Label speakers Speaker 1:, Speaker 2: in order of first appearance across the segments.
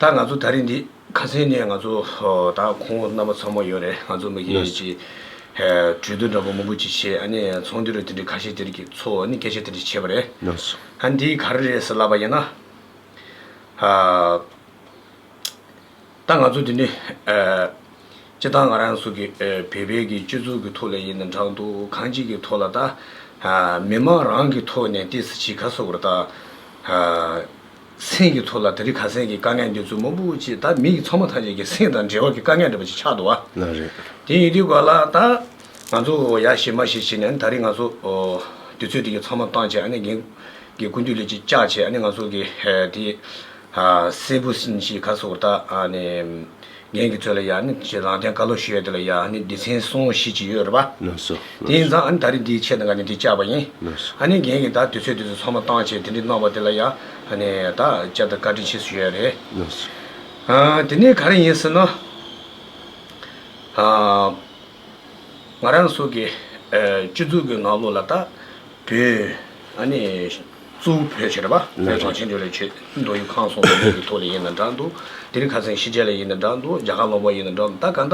Speaker 1: ད་ང་ཚོ་ད་རེས་འདི་ག་ཚེ་ནས་ང་ཚོ་ད་ཁོང་རྣམ་པ་ཚང་མ་ཡོད་རེད་ང་ཚོ་མི་སྒེར་གྱི་གྲོས་བསྡུར་འདྲ་པོ་མང་པོ་ཅིག་བྱས་ཨ་ནི་ཚོང་འདུས་རེད་དེ་འདྲས་ཁ་ཤས་དེ་རིགས་ཀྱི་ཚོ་ནི་སྐད་ཆ་དེ་འདྲས་བྱས་པ་རེད་ཨ་འདི་
Speaker 2: ག་རེ་རེད་
Speaker 1: ཟེར་ལབ་པ་ཡིན་ན། ད་ང་ཚོ་དེ་འདྲའི་སྤྱི་བཏང་ང་རང་ཚོ་གི་བོད་པའི་གི་སྤྱི་ཚོགས་གི་ཐོག་ལ་ཡིན་ན་འདྲང་འདུག་གང་ཅིག་གི་ཐོག་ལ་ད་མི་མང་རང་གི་ཐོག་ནས་ཏི་སི་ཆི་ག་སོག་པོར་ད་སེམས་གི་ཐོག་ལ་ད་རི་ག་སེམས་གི་དཀའ་ངལ་འདི་ཚོ་མང་པོ་ཅིག་ད་མི་གི་ཚང་མ་ཐམས་ཅད་གི་སེམས་དང་འབྲེལ་བ་གི་དཀའ་ངལ་འདྲ་པོ་ཅིག་ཆགས་འདུག་བ། ན་རེ། དེ་ཡིན་
Speaker 2: དུས་བར་ལ་ད་
Speaker 1: ང་ཚོ་ཡ་ཞེ་མ་ཞེ་བྱེད་ནས་ད་རི་ང་ཚོ་དུས་ཚོད་དེ་གི་ཚང་མ་བཏང་བྱས་ཨ་ནི་གིན་གི་ཀུན་འདུས་ལས་ཅིག་བཅག་བྱས་ཨ་ནི་ང་ཚོ་གི་དེ། སྲས་བུ་སྲིན་ཞེས་ཁ་སོགས་དག། རྒྱན་གྱི་ཚོད་ལ་ཡང་ནི་བྱེད། རང་སྟེང་ཀ་ལོ་ཞོལ་དེ་ལ་ཡང་ནི་སྡེ་ཚན་སྲུང་བཞི་བཅས་ཡོད་རེད་པ། དེ་ཡིན་ཙང་
Speaker 2: ད་རེས་
Speaker 1: འདིའི་ཆེད་དང་འགའ་ནི་དེ་བཅའ་བ་ཡིན། རྒྱན་གྱི་དག་དུས་ཚོད་དུས་སུ་ཚང་མ་བཏང་བྱས་དེ་འདྲའི་གནང་བ་དེ་ལ་ཡང་དག་བཅའ་དང་བཀའ་དྲིན་ཆེ་ཞུ་ཡ་རེད།
Speaker 2: དེ་ནི་
Speaker 1: ག་རེ་ཡིན་ཟེར་ན། ང་རང་སོགས་ཀྱི་སྤྱི་གཙུག་གི་ནང་ལོགས་ལ་དག། བོད། ཨ་ནི། གཙོ་བོ་བོད་ཆེ་རེད་པ། བོད་གངས་ཅན་ཆོས་ལས་ཆེ། མདོ་ཡུལ་ཁང་སོགས་ནས་བོད་ཀྱི་ཐོག་ལས་ཡིན་ན་འདྲ་འདུག། དེ་རིང་ཁ་སེང་ཤི་རྒྱལ་ལས་ཡིན་ན་འདྲ་འདུག་རྒྱ་གར་ལོག་པ་ཡིན་ན་འདྲ་འདུག་ད་ག་འདྲ།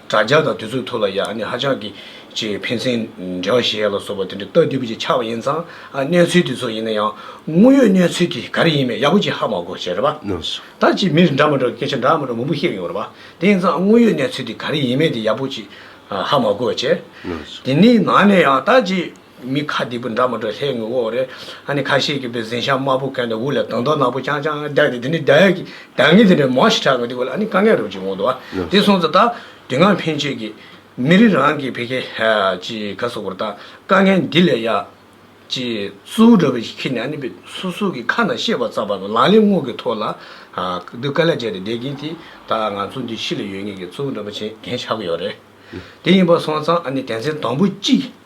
Speaker 1: དྲ་རྒྱ་དང་དུས་ཚོད་ཐུག་ལ་ཡ་ཨ་ནི་ཧ་ཅང་གི། ཅེས་ཕན་ཚན། འབྲེལ་བ་ཞེས་ཡ་ལ་སོགས་པ་དེ་འདྲ་ལྟ་དུས་པོ་ཅིག་ཆགས་པ་ཡིན་ཙང། ཨ་གནས་ཚུལ་དེ་ཚོ་ཡིན་ན་ཡང། དངོས་ཡོད་གནས་ཚུལ་དེ་ག་རེ་ཡིན་མེད་ཡག་པོ་ཅིག་ཧ་མ་གོ་ཞེས་རེད་པ། ད་ཅིག་མི་
Speaker 2: རེ་འདྲ་མ་འདྲ་
Speaker 1: སྐད་ཆ་འདྲ་མ་འདྲ་མང་པོ་ཤེས་ཀྱི་ཡོད་རེད་པ། དེ་ཡིན་ཙང་དངོས་ཡོད་གནས་ཚུལ་དེ་ག་རེ་ཡིན་མེད་དེ་ཡག་པོ་ཅིག་ཧ་མ་གོ་ཅེས། དེ་ནི་ནང་ནས་ཡང་ད་ཅིག། མི་ཁ་སྡིག་པོ་འདྲ་མ་འདྲ་ལྷའི་ངོ་བོ་རེད། ཨ་ནི་ཁ་ཤས་ཀྱིས་པའི་གཟན་ཤ་དམར་པོ་གན་དང་དབུ་ལ་དང་ཐོག་ནག་པོ་རྐྱང་རྐྱང་རྒྱག་སྟེ་དེ་ནི་བརྡ་ཡག་གི་བརྡ་ངན་དེ་འདྲ་མང་ཞིག་གྲགས་ཀྱང་དེ་གོ་ལ་ཨ་ནི་དཀའ་ངལ་རུ་གྱིས་འོང་འདུག་ཨ་དེ་སོང་ཙང་ད་དེ་སྔ་ཕན་ཆད་ཀྱི་མི་རིགས་རང་གི་བེ་ཀེ་ཅི་ག་སོག་པོར་ད་དཀའ་ངལ་འདི་ལས་ཡག་ཅི་སུའུ་འདྲ་བོ་ཞིག་ཁྱེར་ནས་ཨ་ནི་པའི་སོ་སོ་གི་ཁ་ན་ཤེས་པ་ཙམ་པ་ནོ་ལང་ལེ་སྔོག་གི་ཐོག་ལ་སྡུག་དཀའ་ལས་བྱས་ཏེ་བསྡད་ཀྱིན་དེ་ད་ང་ཚོ་འདི་ཕྱི་ལ་ཡོད་ངེས་ཀྱི་གཙོ་བོ་འདྲ་པོ་བྱེད་མཁན་ཆགས་ཀྱི་ཡོད་རེད་དེ་ཡིན་པ་སོང་ཙང་ཨ་ནི་དད་མཚན་དང་པོ་གཅིག་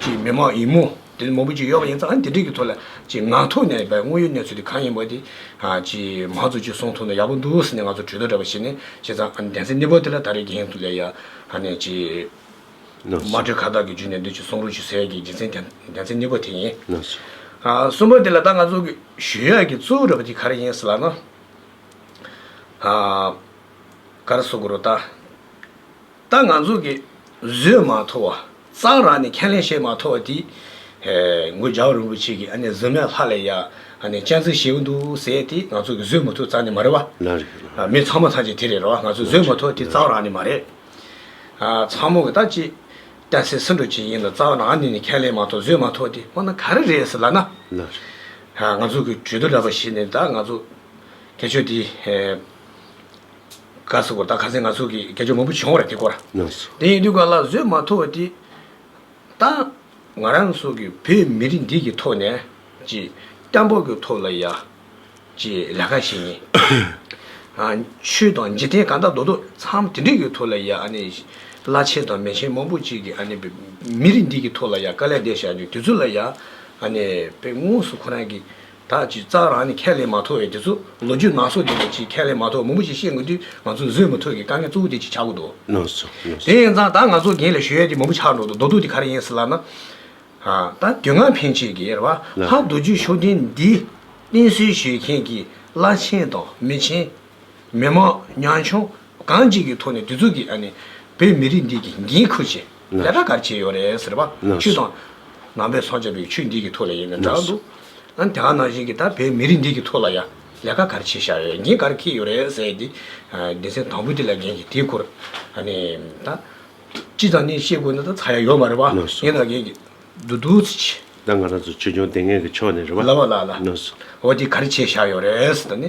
Speaker 1: གྱི་མི་མང་ཡིན་མོད། དེ་ནི་མང་པོ་ཅིག་ཡོད་པ་ཡིན་ཙང་འདི་དྲིལ་གྱི་ཐོག་ལ་ངག་ཐོག་ནས་བས་དངོས་ཡོད་གནས་ཚུལ་དེ་གང་ཡིན་པ་དེ། མང་གཙོ་གཅིག་གསུང་ཐུབ་ན་ཡག་པོ་འདུག་ཟེར་ནས་ང་ཚོར་གྲོས་བསྡུར་རེ་བ་བྱས་ནས་བྱས་ཙང་གདན་སའི་གནས་བབ་དེ་ལ་ད་རེས་དགེ་རྒན་དུ་ལས་ཡ། མ་དྲོས་ཁ་བཏགས་ཀྱི་རྒྱུད་ནས་འདོད་ཀྱི་གསུང་རོགས་ཞུ་ཟེར་གྱི་རྒྱུ་མཚན་གདན་སའི་གནས་བབ་དེ་ཡིན། གསུམ་པ་དེ་ལ་ད་ང་ཚོ་གི་ཞུ་ཡག་གི་གཙོ་བོ་རེ་བ་དེ་ག་རེ་ཡིན་ཟེར་ལགས་ན། ག་རེ་གསུང་དགོས་རོགས་ལྟ། ད་ང་ཚོ་གི་བཟོས་མ་ཐོ་བ་གཙང་ར་ནས་ཁས་ལེན་བྱས་མ་ཐོ་བ་དེ། མགོན་སྦྱར་རིན་པོ་ཆེ་གི་ཨ་ནེ་ཟི་མའི་ལྷ་ལས་ཡ་ཨ་ནེ་སྤྱན་གཟིགས་བྱས་ཀྱི་འདུག་ཟེར་དེ་ང་ཚོ་གི་བཟོས་མ་ཐོ་གཙང་ནས་མ་རེད་བ། ན་རེད་ན་རེད། མི་ཚང་མ་ཚང་གཅིག་དེ་རེད་རོ་ང་ཚོ་བཟོས་མ་ཐོ་དེ་གཙང་ར་ནས་མ་རེད། ཚང་མོ་གི་ད་ཅི། བསྟན་སྲིད་སྲིད་འགྲོ་ཅིག་ཡིན་ལ་གཙང་ར་ནས་ནས་ཁས་ལེན་མ་ཐོ་བཟོས་མ་ཐོ་དེ་ཁོ་ན་ག་རེ་རེད་ཟེར་ལ་ན། ན་རེད། ང་ཚོ་གི་གྲོས་བསྡུར་འདྲ་པ་བྱས་ནས་ད་ང་ཚོ་དེ་ཆོས་དེ། བཀའ་སྩལ་པོ་ད་ག་ཚད་ང་ཚོ་གིས་དགེ་སྦྱོར་མང་པོ་བྱུང་བར་དེ་སྐོར། དེ་ཡིན་དུས་ག་ལ་བཟོད་མ་ཐུབ་བ་དེ་ད་ང་རང་སོགས་ཀྱི་བོད་མི་རིགས་འདི་གི་ཐོག་ནས་ཀྱི་སྐྱབས་འབོག་གི་ཐོག་ལ་ཡ་ཀྱི་ལས་ཀ་བྱེད་ཉིན། ཆོས་དང་འཇིག་རྟེན་གང་དག་རྡོ་རྡོ་འཚམས་དེ་འདྲས་ཀྱི་ཐོག་ལ་ཡ་ཨ་ནི་བླ་ཆེན་དང་མེ་ཆེན་མང་པོ་ཅིག་གིས་ཨ་ནི་བོད་མི་རིགས་འདི་གི་ཐོག་ལ་ཡ་དཀའ་ལས་འདས་བཞག་ནི་དེ་ཚོ་ལ་ཡ་ཨ་ནི་བོད་དངོས་སུ་ཁོ་རང་གི་དག་ཅིག་གཙང་རང་ནས་ཁས་ལེན་མ་ཐོབ་བས་དེ་ཚོ་ལོ་རྒྱུས་ནང་སོག་བསྡད་པ་ཅིག་ཁས་ལེན་མ་ཐོབ་མང་པོ་ཞིག་བཤད་དགོས་དུས་ང་ཚོ་བཟོད་མི་ཐུབ་ཀི་དཀའ་ངལ་གཙོ་བོ་དེ་ཅིག་ཆགས་གི་འདུག་དེ་
Speaker 2: ཡིན་ཙང་ད་ང་
Speaker 1: ཚོ་རྒན་ལས་ཞོལ་ཡས་དེ་མང་པོ་ཆགས་འགྲོ་འདུག་རྡོ་དུག་དེ་ག་རེ་ཡིན་ཟེར་ལབ་ན། ད་དུས་ངག་འཕེན་བྱེད་ཀི་རེད་བ། ལྷ་རྡོ་རྗེ་ཤོག་ལྡན་འདིས་བསྟེན་གསོལ་ཞུས་མཁན་གི་བླ་ཆེན་དང་མི་ཆེན། མི་མང་ཉང་ཆུང་གང་ཅིག་གི་ཐོག་ནས་དེ་ཚོ་གི་ཨ་ནི་བོད་མི་རིགས་འདི་གི་འགན་ཁུར་བྱེད། ལས་ད་གར་བྱས་ཡོད་རེད་ཟེར་བ། ཆུ་དང། ནང་པའི་སངས་རྒྱས་པའི་ཆུ་འདི་གི་ཐོག་ལ་ཡིན་ནི་འདྲ་འདུག། ཨན་དེ་ག་ནང་བཞིན་གི་ད་བའི་མི་རིགས་འདི་གི་ཐོག་ལ་ཡ། ལས་ཀ་གར་བྱས་ཤག་ཡོད་འགན་གར་ཁེ་ཡོད་རེད་ཟེར་དེ། སྡེ་ཚན་དང་པོ་དེ་ལ་འགན་གི་དེ་སྐོར། ཨ་ནི། ད། སྤྱི་ཚང་ནས་བཤད་དགོས་ན་ད་ཚ་ཡ་ཡོད་མ་རེད་བ། ངས་ད་འགན་གི། འདུག་འདུག་ཚི་ཆི། ད་ང་རང་ཚོ་ཆོས་
Speaker 2: སྐྱོང་ལྟེ་ངན་གི་ཕྱོགས་ནས་རེད་བ། ལ་བ་ལ་ལ། ཨོ་
Speaker 1: དེ་གར་
Speaker 2: བྱས་ཤག་
Speaker 1: ཡོད་རེད་ཟེར་ད་ནི།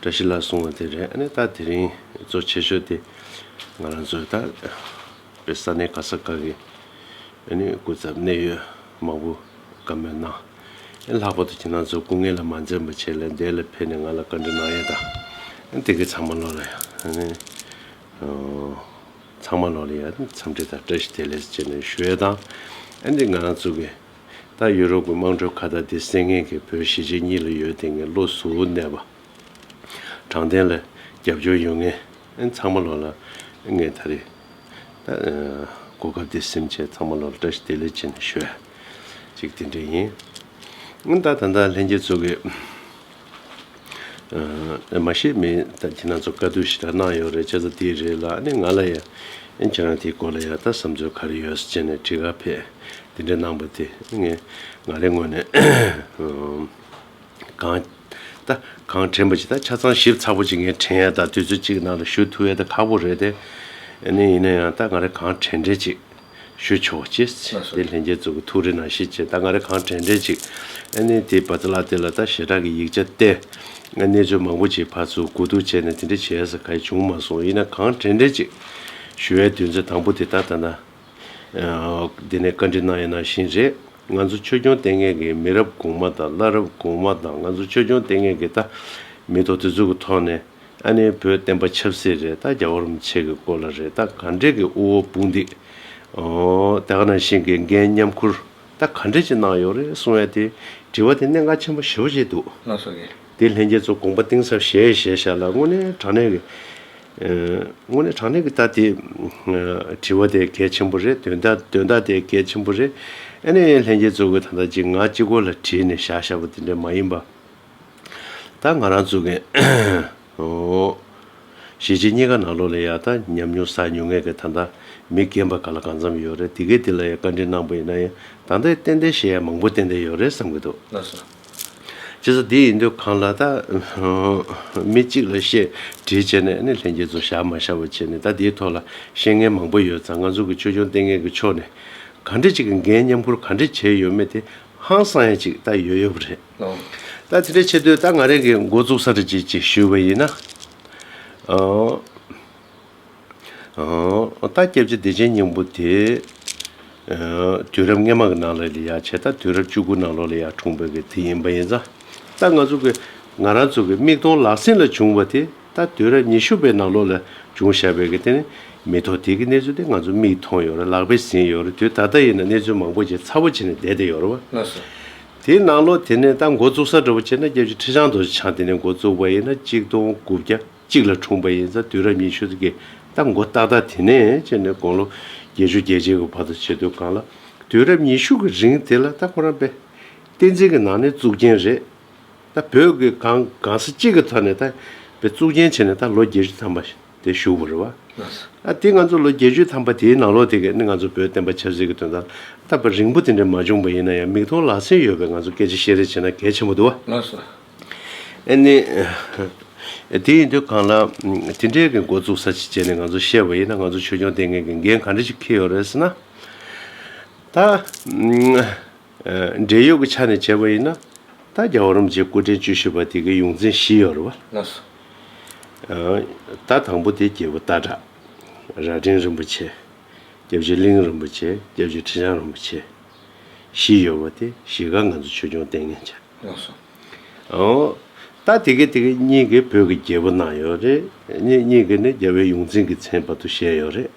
Speaker 2: བཀྲ་ཤིས་ལགས་གསུང་བ་དེ་རེད་ཨ་ནི་ད་དེ་རིང་གཙོ་ཆེ་ཤོས་དེ་ང་རང་ཚོའི་ད་བའི་ས་གནས་ག་ས་ག་གི་ཨ་ནི་སྐུ་ཚབ་གནད་ཡོད་མང་པོ་ག་མོད་ནང་ཨ་ལྷག་པར་དུ་ཁྱེད་རང་ཚོ་སྐུ་ངལ་ལ་མ་འཛེམས་པ་ཆེད་ལས་འདས་ལ་ཕེབས་ནས་ང་ལ་བཀའ་འདྲི་གནང་ཡས་ད་ཨ་དེ་གི་ཚང་མ་ལོག་ལ་ཡ་ཨ་ནི་ཚང་མ་ལོག་ལ་ཡ་འཚམས་འདྲི་དང་བཀྲ་ཤིས་བདེ་ལེགས་ཅེས་ནས་ཞུ་ཡས་ད་ཨ་འདི་ང་རང་ཚོ་གི། ད་ཡུ་རོབ་ཀྱི་དམངས་ཁྲོད་ཁ་བརྡ་དེ་སེང་ངེ་གི་བོད་གཞིས་བྱེས་གཉིས་ལ་ཡོད་དེ་ངའི་བློ་ཟུ་བོ་གནས་པ། དྲང་བདེན་ལ་རྒྱབ་སྐྱོར་ཡོད་ངེས་ཚང་མ་ལོ་ལ་ངེས་ད་རེད། ད་གོ་སྐབས་དེ་སེམས་ཆེད་ཚང་མ་ལོ་ལ་བཀྲ་ཤིས་བདེ་ལེགས་བྱིན་ནས་ཤོད་ཅིག་དེ་འདྲས་ཡིན། ད་ད་ལྟ་ལྷན་རྒྱས་ཚོ་གི། མ་ཤེས་མེད་ད་ཁྱེད་རང་ཚོ་བཀའ་བསྡུར་ཞིག་ད་གནང་ཡོད་རེད་བྱས་ཙང་དེ་རེད་ལ་ཨ་ནི་ང་ལ་ཡང་ཁྱེད་རང་དེའི་སྐོར་ལ་ཡང་ད་བསམ་ཚུལ་ག་རེ་ཡོད་ཅེས་ནས་དྲི་ག་ཕེད་དེ་འདྲ་གནང་པ་དེ་ངས་ང་རེ་ངོས་ནས་གང་ད་གང་དྲན་པ་ཅིག་ད་ཆ་ཚང་ཞིབ་ཚགས་པོ་ཅིག་ངས་དྲན་ཡ་ད་དུས་ཚོད་ཅིག་གི་ནང་ལ་ཞུ་ཐུབ་ཡ་ད་ཁག་པོ་རེད་དེ་ཨ་ནི་ཡིན་ན་ཡང་ད་ང་རེ་གང་དྲན་དྲན་ཅིག། ཞུས་ཆོག་ཅེས་བྱས་ཏེ་ལྷན་རྒྱས་ཚོགས་ཀྱི་ཐུགས་རེ་ནང་བཞིན་བྱས་ད་ང་རེ་གང་དྲན་དྲན་ཅིག་ཨ་ནེ་དེས་བ་ཚ་ལགས་དེ་ལ་ད་ཞེ་དྲག་གི་ཡིག་ཆ་བསྟན། ང་གནས་ཚུལ་མང་པོ་ཅིག་ཕར་ཚུར་སྒུག་རྡུག་བྱས་ནས་དེ་འདྲ་བྱས་ས་ག་ཡེ་བྱུང་མ་སོང་ཡིན་ན་གང་དྲན་དྲན་ཅིག། ཞུ་བའི་དུས་ཚོད་དང་པོ་དེ་ད་ད་ནའང་འདི་ནས་བཀའ་འདྲི་གནང་ཡས་ནང་བཞིན་རེད་ང་ཚོ་ཆོས་སྐྱོང་ལྟས་ངན་གི་མི་རབས་གོང་མ་དང་བླ་རབས་གོང་མ་དང་ང་ཚོ་ཆོས་སྐྱོང་ལྟས་ངན་གི་ད་མི་ཐོག་དེ་ཚོ་གི་ཐོག་ནས། ཨ་ནེའི་བུ་བསྟན་པ་ཆབ་སྲིད་རེད་ད་རྒྱ་བོར་མི་ཆེ་གི་སྐོར་ལ་རེད་ད་ག་འདྲེ་གི་དབུ་བོ་སྤུན་འདི། ད་ག་ནང་བཞིན་གི་འགན་མཉམ་ཁུར་ད་ག་འདྲེ་ཅིག་གནང་ཡོད་རེད་གསུང་ཡ་དེ་དྲི་བ་དེ་གནད་འགག་ཆེན་པོ་ཞེ་བོ་ཅིག་འདུག། ལ་སོགས་ཀྱི། དེ་
Speaker 1: ལྷན་རྒྱས་ཚོ་དགོངས་པ་
Speaker 2: གཏིང་ཟབ་བཞེས་བཞེས་བཞག་ལ་དངོས་གནས་དྲང་གནས་ཀྱི། དངོས་གནས་དྲང་གནས་ཀྱི་ད་དེ། དྲི་བ་དེ་གལ་ཆེན་པོ་རེད་དོན་དག་དོན་དག་དེ་གལ་ཆེན་པོ་རེད་ཨ་ནེ། ལྷན་རྒྱས་ཚོ་གི་ད་ད་ཅིག་ང་གཅིག་གོ་ལ་བྲིས་ནས་བཞག་བཞག་པ་དེ་འདྲ་མ་ཡིན་པ། ད་ང་རང་བཙུགས་མཁན་ཨོའོཞེས་རྗེ་སྙེ་ག་ནག་ལོ་ལ་ཡག་ད་ཉམས་མྱོང་ཟ་མྱོང་ངས་ཀྱི་ད་ད་མི་རྒན་པ་ག་ལ་གང་འཚམས་ཡོད་རེད་དེ་གས་དེ་ལ་ཡང་བཀའ་དྲིན་གནང་པོ་ཡིན་ན་ཡང་ད་ད་ཏན་ཏན་ཞེ་ཡང་མང་པོ་ཏན་ཏན་ཡོད་རེད་བསམ་གྱི་འདུག་
Speaker 1: ལ་སོ། བྱས་ཙང་
Speaker 2: དེ་ཡིན་དུས་གང་ལ་ད་ཨོའོམི་གཅིག་ལ་བཤད་དྲིས་བྱས་ནས་ནི་ལྷན་རྒྱས་ཚོ་བཞག་མ་བཞག་པ་བྱས་ནས་ད་དེའི་ཐོག་ལ་བཤད་མཁན་མང་པོ་ཡོད་ཙང་ང་ཚོ་གི་ཆོས་སྐྱོང་ལྟས་ངན་གྱི་ཕྱོགས་ནས་ག་འདྲི་གཅིག་གི་འགན་མཉམ་འཁུར་ག་འདྲི་བྱས་ཡོད་མེད་དེ་ཧང་སང་ཡ་གཅིག་ད་ཡོད་ཡོད་རེད། ད་དེ་འདྲའི་ཆེ་བསྟོད་ད་ང་རེ་འགའི་མགོ་བཙུགས་ས་རེ་བྱེད་ཅེས་ཞུས་པ་ཡིན། ད་སྐྱབས་རྗེ་བདེ་ཆེན་སྙིང་པོ་དེ། དུས་རབས་སྔའི་མ་གི་ནང་ལོགས་ལས་ཡག་བྱས་ད་དུས་རབས་བཅུ་དགུ་ནང་ལོགས་ལས་ཡག་འཁྲུངས་བོད་ཀྱི་དེ་ཡིན་པ་ཡིན་ཙང་ད་ང་ཚོ་གི་ང་རང་ཚོ་གི་མིག་མཐོང་ལག་ཟིན་ལ་བྱུང་བ་དེ་ད་དུས་རབས་ཉི་ཤུ་པའི་ནང་ལོགས་ལ་བྱུང་བཞག་བོད་ཀྱི་དེ་ནི་མི་ཐོག་དེ་གི་གནས་ཚུལ་དེ་ང་ཚོ་མིག་མཐོང་ཡོད་རེད་ལག་པས་ཟིན་ཡོད་རེད་དུས་ད་ལྟ་ཡིན་ན་གནས་ཚུལ་མང་པོ་ཅིག་ཚ་བོ་བྱས་ནས་བསྡད་དེ་ཡོད་རེད་བ།
Speaker 1: དེའི་ནང་ལོ་
Speaker 2: དེ་ནས་ད་འགོ་བཙུགས་ས་འགྲོ་བ་ཆེ་ན་སྐྱབས་རྗེ་ཁྲི་བྱང་དུ་ཆང་དེ་ནས་འགོ་བཙུགས་པ་ཡིན་ན་གཅིག་སྟོང་དགུ་བརྒྱ་གཅིག་ལ་འཁྲུངས་པ་ཡིན་ས་དུས་རབས་ཉི་ཤུ་ཙི་གེ་ད་འགོ་ཏག་ཏག་དེ་ནས་ཅེས་ནས་དགུང་ལོ་བརྒྱད་ཅུ་བརྒྱད་ཅན་གྱི་བར་དུ་བྱེད་དུས་གང་ལ་དུས་རབས་ཉི་ཤུ་གི་རིང་དེ་ལ་ད་ཁོ་རང་པེ་བསྟན་འཛིན་གྱི་ནང་ནས་བཙུགས་རྐྱེན་རེད། ད་བོད་ཀྱི་གང་གང་ས་གཅིག་གི་ཐོག་ནས་ད་བེ་བཙུགས་རྐྱེན་བྱས་ནས་ད་ལོ་བརྒྱད་ཅུ་ཐམ་པ། དེ་ཞུ་བར་བ། ཨ་ཏི་ང་ཚོ་ལོ་བརྒྱད་ཅུ་ཐམ་པ་དེའི་ནང་ལོ་དེ་གའི་ནི་ང་ཚོ་བོད་བསྟན་པ་ཆབ་སྲིད་ཀྱི་དོན་དང་སྟབས་པ་རིང་པོ་དེ་འདྲ་མ་བྱུང་པ་ཡིན་ན་ཡང་མིག་མཐོང་ལག་ཟིན་ཡོད་པའི་ང་ཚོ་སྐད་ཆ་བཤད་རེས་བྱེད་ན་གལ་ཆེན་པོ་འདུག་བ། ཨེ་
Speaker 1: ནི།
Speaker 2: དེ་ཡིན་དུས་གང་ལགས། དེ་འདྲའི་གི་འགོ་བཙུགས་ས་ཅིག་བྱས་ནས་ང་ཚོ་བཤད་པ་ཡིན་ན་ང་ཚོ་ཆོས་སྐྱོང་ལྟེ་ངན་གྱི་འགན་ག་འདྲ་ཞིག་འཁེལ་ཡོད་རེད་ཟེར་ན། ད། འབྲེལ་ཡོད་ཀྱི་ཆ་ནས་བྱས་པ་ཡིན་ན། ད་རྒྱ་བོད་རམ་རྗེ་སྐུ་ཕྲེང་བཅུ་བཞི་པ་དེ་གའི་ཡོངས་འཛིན་བཞི་ཡོད་རེད་བ། ད་དང་པོ་དེ་རྒྱལ་པོ་སྟག་བྲག་རྭ་སྒྲེང་རིན་པོ་ཆེ། སྐྱབས་རྗེ་གླིང་རིན་པོ་ཆེ་སྐྱབས་རྗེ་ཁྲི་བྱང་རིན་པོ་ཆེ། བཞི་ཡོད་པ་དེ་བཞི་ག་ང་ཚོ་ཆོས་སྐྱོང་ལྟས་ངན་བྱ།
Speaker 1: ཨོ། ད་དེ་
Speaker 2: གའི་དེ་གའི་གཉིས་ཀའི་བོད་ཀྱི་རྒྱལ་པོ་གནང་ཡོད་རེད། གཉིས་གཉིས་ཀའི་ནི་རྒྱལ་བོའི་ཡོངས་འཛིན་གྱི་མཚན་བར་དུ་བཞེས་ཡོད་རེད།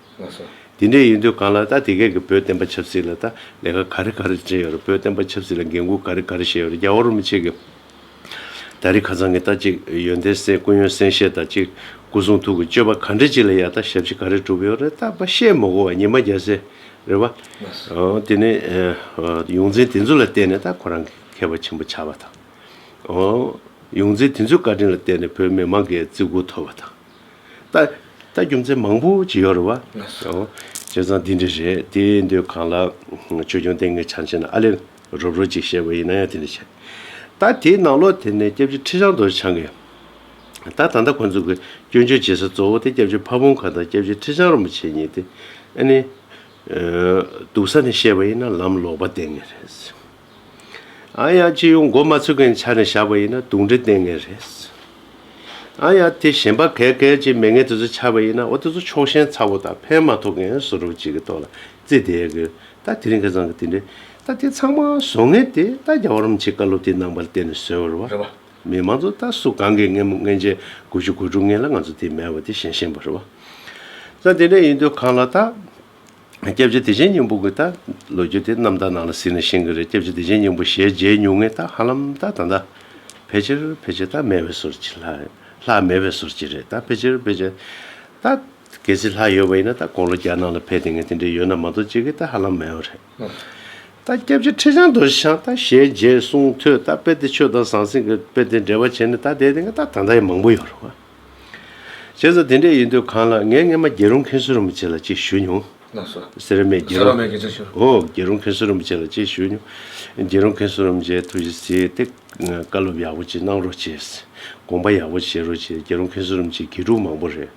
Speaker 1: དེ་འདྲས་ཡིན་དུས་གང་
Speaker 2: ལ་ད་དེ་གའི་གི་བོད་བསྟན་པ་ཆབ་སྲིད་ལ་ད་ལས་ཀ་ག་རེ་ག་རེ་བྱས་ཡོད་རེད་བོད་བསྟན་པ་ཆབ་སྲིད་ལ་འགན་ཁུར་ག་རེ་ག་རེ་བཞེས་ཡོད་རེད་རྒྱ་བོ་རུ་མི་ཆེ་གི། ད་རི་ཁ་ཚང་གི་ད་ཅིག་ཡོན་ཏན་སྲས་སྐུ་ཡོན་སྲན་ཤེས་ད་ཅིག་སྐུ་གསུང་ཐུགས་ཀྱི་སྤྱོད་པ་ག་འདྲས་ཅིག་ལ་ཡ་ད་ཞབས་ཕྱི་ག་རེ་གྲུབ་ཡོད་རེད་ད་པ་བཤད་མི་གོ་བ་ཉི་མ་བརྒྱ་སེ་རེད་བ། ཨོ་དེ་ནི་ཡོངས་འཛིན་དེ་ཚོ་ལ་བརྟེན་ནས་ད་ཁོ་རང་གི། མཁས་པ་ཆེན་པོ་ཆགས་པ་དང། ཡོངས་འཛིན་དེ་ཚོའི་བཀའ་དྲིན་ལ་བརྟེན་ནས་བོད་མི་མང་གི་བརྩི་བཀུར་ཐོབ་པ་དང། ལྟ་རྒྱུ་མཚན་མང་པོ་ཇི་ཡོད་རེད་བ། བྱས་ཙང་འདི་འདྲ་རེད་དེ་འདོད་གང་ལ། ཆོས་སྐྱོང་སྟེང་གི་ཆ་འཕྱེ་ན་ཨ་ལེ་རོབ་རོབ་ཅིག་བཤད་པ་ཡིན་ན་ཡང་དེ་འདྲ་བྱས། ད་དེའི་ནང་ལོགས་དེ་ནས་སྐྱབས་རྗེ་ཁྲི་བྱང་རྡོར་འཆང་གིས། ད་ད་ལྟ་ཁོང་ཚོ་གི་སྐྱོན་བརྗོད་བྱེད་ས་གཙོ་བོ་དེ་སྐྱབས་རྗེ་ཕ་བོང་ཁ་དང་སྐྱབས་རྗེ་ཁྲི་བྱང་རིན་པོ་ཆེ་གཉིས་ཏེ། ཨ་ནི། སྡུག་ས་ནས་བཤད་པ་ཡིན་ན་ལམ་ལོག་པ་བསྟན་ངེས་རེད། ཨ་ཡ་སྤྱི་ཡོངས་མགོ་མ་ཚོས་མཁན་ཆ་ནས་བཞག་པ་ཡིན་ན་དུག་འདྲེ་བསྟེན་མཁན་རེད། ཨ་ཡ་དེ་གཞན་པ་གས་གས་ཀྱི་མེ་ངན་དེ་ཚོ་ཆགས་པ་ཡིན་ན་འོ་དེ་ཚོ་ཕྱོགས་ཞེན་ཚ་བོ་དང་ཕན་མ་ཐོགས་མཁན་སོ་རུབ་ཅིག་གི་ཐོག་ལ་རྩིས་བསྡད་ཡོད་གི་ད་དེ་རིང་ཁ་ཚང་གི་དེ་འདྲས་ད་དེ་ཚང་མ་བཟོ་ངན་དེ་ད་རྒྱ་བར་མ་ཆེ་བཀའ་སློབ་དེ་ནང་པར་བསྟེན་ནས་བཟོས་བར་བ་རེད་བ། མི་མང་ཚོ་ད་སུ་གང་གིས་ངན་མོ་ངན་ཅན་དགུ་བཅུ་དགུ་དྲུག་ངན་ལ་ང་ཚོ་དེ་མེད་བ་དེ་གཞན་ཞེན་པ་རེད་བ། ད་དེ་འདྲས་ཡིན་དུས་གང་ལ་ད། སྐྱབས་རྗེ་བདེ་ཆེན་སྙིང་པོ་གི་ད་ལོ་རྒྱུ་དེ་རྣམ་དག་ནང་ལ་གཟིགས་ནས་ཤེས་གི་རེད་སྐྱབས་རྗེ་བདེ་ཆེན་སྙིང་པོ་ཞལ་མཇལ་ཉུང་ངེས་ད་ཧ་ལམ་ད་ད་ད་ཕལ་ཆེར་ཕལ་ཆེར་ད་མེད་པའི་ཟུར་གྱི་ལྷ་ལྷ་མེད་པའི་ཟུར་གྱི་རེད་ད་ཕལ་ཆེར་ཕལ་ཆེར་ད། གལ་སྲིད་ལྷ་ཡོད་པ་ཡིན་ན་ད་དགོང་ལོ་བརྒྱ་ནང་ལ་ཕལ་དེ་ངས་དེ་འདྲའི་ཡོད་ན་མ་གཏོགས་ཅི་གི་ད་ཧ་ལམ་མེད་བ་རེད། ད་སྐྱབས་རྗེ་ཁྲི་བྱང་རྡོ་རྗེ་འཆང་ད་ཞལ་མཇལ་གསུང་ཐོས་ད་དཔེ་དེ་ཆོས་དང་ཟང་ཟིང་གི་དཔེ་དེ་འགྲེལ་པ་བྱས་ནས་ད་བསྡད་དེ་ང་ད་ད་ད་ཡི་མང་པོ་ཡོད་རེད་བ། བྱས་ཙང་དེ་འདྲས་ཡིན་དུས་གང་ལགས་ངས་སྔན་མ་རྒྱལ་རོང་མཁན་སུ་རིན་པོ་ཆེ་ལ་ཅིག་ཞུས་མྱོང། ལགས་སོ། སེ་ར་མེད་རྒྱལ་རོང། སེ་ར་མེད་རྒྱལ་ཆ་ཞུ། ཨོ་རྒྱལ་རོང་མཁན་སུ་རིན་པོ་ཆེ་ལ་ཅིག་ཞུས་མྱོང། རྒྱལ་རོང་མཁན་སུ་རིན་པོ་ཆེ་ཐུགས་རྗེ་ཆེ་སྟེ། བཀའ་སློབ་ཡག་པོ་ཅིག་གནང་རོགས་བྱས། དགོངས་པ་ཡག་པོ་བཞེས་རོགས་བྱས་རྒྱལ་རོང་མཁན་སུ་རིན་པོ་ཆེ་དགེ་ཕྲུག་མང་པོ་རེད།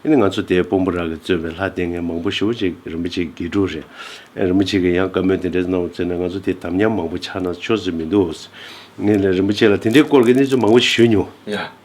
Speaker 2: ཨིནི་ང་ཚོ་དེའི་དཔོན་པོ་རག་གི་བཙོན་པའི་ལྷ་སྡེ་ངན་མང་པོ་ཞུ་བ་ཅིག་རིན་པོ་ཆེ་དགེ་ཕྲུག་རེད། རིན་པོ་ཆེ་གི་ཡང་བཀའ་མོལ་དེ་འདྲས་གནང་བ་བཙོན་ནས་ང་ཚོ་དེའི་དམ་ཉམས་མང་པོ་ཆགས་ན་ཆོས་ཟིག་མི་འདུག། ངས་ལ་རིན་པོ་ཆེ་ལ་དེ་འདྲས་སྐོར་གི་གནས་ཚུལ་མང་པོ་ཞུས་མྱོང། ཡ།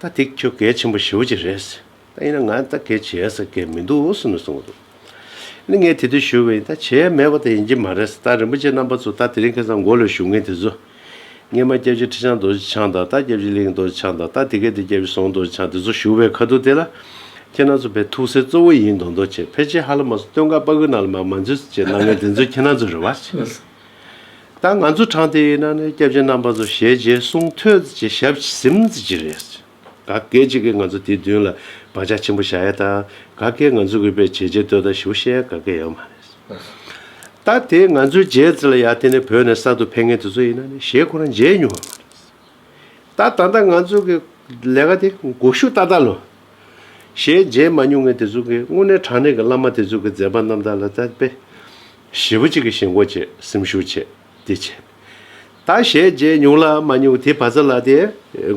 Speaker 2: ད་ཐིག་ཁྱོད་གལ་ཆེན་པོ་ཞེའུ་ཅི་རེད། ད་ཡིན་ན་ང་ད་གལ་བྱས་ཟེར་མཁན་མི་འདུག་ཟེར་ནས་སོང་འདུག་ངས་དེ་དུས་ཞུ་བ་ཡིན་ད་བྱས་མེད་པ་དེ་ཡིན་གྱི་མ་རེད་ད་རིན་པོ་ཆེ་རྣམ་པ་ཚོ་ད་དེ་རིང་ཁེ་བཟང་མགོ་ལོས་ཞུ་མཁན་དེ་ཚོ། སྔས་མ་སྐྱབས་རྗེ་ཁྲི་བྱང་རྡོ་རྗེ་འཆང་དང་ད་སྐྱབས་རྗེ་གླིང་རྡོ་རྗེ་འཆང་དང་ད་དེ་གའི་དེ་སྐྱབས་རྗེ་ཟོང་རྡོ་རྗེ་འཆང་དེ་ཚོ་ཞུ་བའི་ཁ་ཐུག་དེ་ལ། ཁྱེད་རྣམ་ཚོ་བས་ཐུགས་སེལ་གཙོ་བོ་ཡིན་མདོག་མདོག་བྱས་ཕལ་ཆེར་ཧ་ལ་མ་སོ་སྟོད་འགག་སྤ་གུ་ནང་ལ་མ་མ་འཛུལ་ཟེར་བྱས་གནང་མཁན་དེ་ཚོ་ཁྱེད་རྣམ་ཚོ་རེད་བ། ད་ང་ཚོ་དྲང་བདེན་ཡིན་ན་ནི་སྐྱབས་རྗེ་རྣམ་པ་ཚོ་ཞལ་རྗེས་གསུང་ཐོས་ཀྱི་ཞབས་ཟིན་གྱི་རེད། ག་སྐད་ཅིག་གིས་ང་ཚོ་དེ་མདུན་ལ་བག་ཆགས་ཆེན་པོ་བཞག་ཡ་དང་ག་སྐད་ང་ཚོ་གུས་པས་བྱས་རྗེས་ལྟོས་དང་ཞུ་བཤད་ཡ་ག་སྐད་ཡོད་མ་རེད། ད་དེ་ང་ཚོའི་རྗེས་བརྩི་ལ་ཡ་དེ་ནི་བོད་ནས་གསར་དུ་ཕེབས་མཁན་དེ་ཚོ་ཡིན་ན་ནི་ཞེ་ཁོ་རང་མཇལ་མྱོང་བ་མ་རེད། ད་ད་ལྟ་ང་ཚོ་གི་ལས་ཀ་དེ་འགུགས་ཤུགས་ཏག་ཏག་ལོ། ཞལ་མཇལ་མ་མྱོང་མཁན་དེ་ཚོ་གིས་དངོས་གནས་དྲང་གནས་ཀྱི་བླ་མ་དེ་ཚོ་གི་མཛད་པ་རྣམ་དག་ལ་ད་དཔེ། བཞི་པོ་གཅིག་གི་ཞེན་གོ་བྱེད་སེམས་ཤུགས་ཆེ། དེ་བྱེད། ད་བྱས་རྗེས་ཉུང་ལ་མ་ཉུང་དེ་བ་ཚ་ལ་དེ།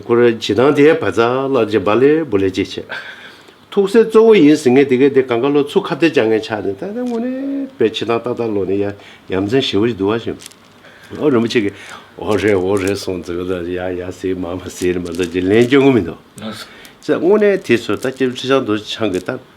Speaker 2: ཁུ་ར་བྱི་དང་དེ་བ་ཚ་ལར་བྱེད་བ་ལས་བུ་ལས་ཅི་བྱེད། ཐུགས་སྲས་གཙོ་བོ་ཡིན་ཟིན་ངེས་དེ་གས་དེ་གང་ག་ལོ་ཚུགས་ཁ་བདེ་བྱ་ངེས་ཆགས་ནས་ད་ལྟ་དངོས་གནས་པའི་ཕྱི་ཐང་ཏག་ཏག་ལོག་ནས་ཡ་ཡ་མཚན་བཞི་བོ་ཅིག་བསྡུ་བ་བྱེད། ཨོ་རིན་པོ་ཆེ་གིས་འོ་རེད་འོ་རེད་གསུངས་ཟིན་ལ་ཡ་ཡ་ཟེར་མ་མ་ཟེར་ནས་མ་འདོད་ཅིག་ལན་བསྐྱོན་ངོ་མི་འདོད། ལགས་སོ། ལྔུ་ནས་དེ་ཚོས་ད་ཅིར་ཁྲི་བྱང་དུ་ཆང་གིས་བཏབ།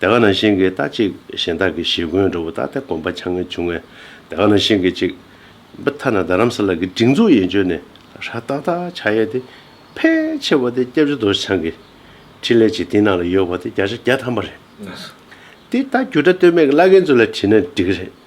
Speaker 2: དེ་ག་ནང་བཞིན་གྱི་རྟགས་གཅིག་གཞན་དག་གི་གཞི་ཀུན་འགྲོ་བ་རྟག་སྟེ་གོམས་པ་ཆ་ངེས་འབྱུང་བས་དེ་ག་ནང་བཞིན་གྱི་གཅིག། བི་ཐ་ན་རྡ་རམ་ས་ལ་གི་སྒྲིག་འཛུགས་ཡན་ཆོད་ནས་ཧྲ་རྟག་དག་ཆ་ཡས་ཏེ་ཕལ་ཆེ་བ་དེ་སྐྱབས་རྗེ་རྡོ་རྗེ་འཆང་གི་ཕྲིན་ལས་ཀྱི་སྟེང་ན་ལ་ཡོད་པ་དེ་བརྒྱ་ཆ་བརྒྱ་ཐམ་པ་རེད། དེ་ལྟར་རྒྱུ་སྒྲ་ལྟོས་མེད་ཀྱི་བླ་རྒན་ཚོ་ལ་དྲིས་ན་འགྲིག་གི་རེད།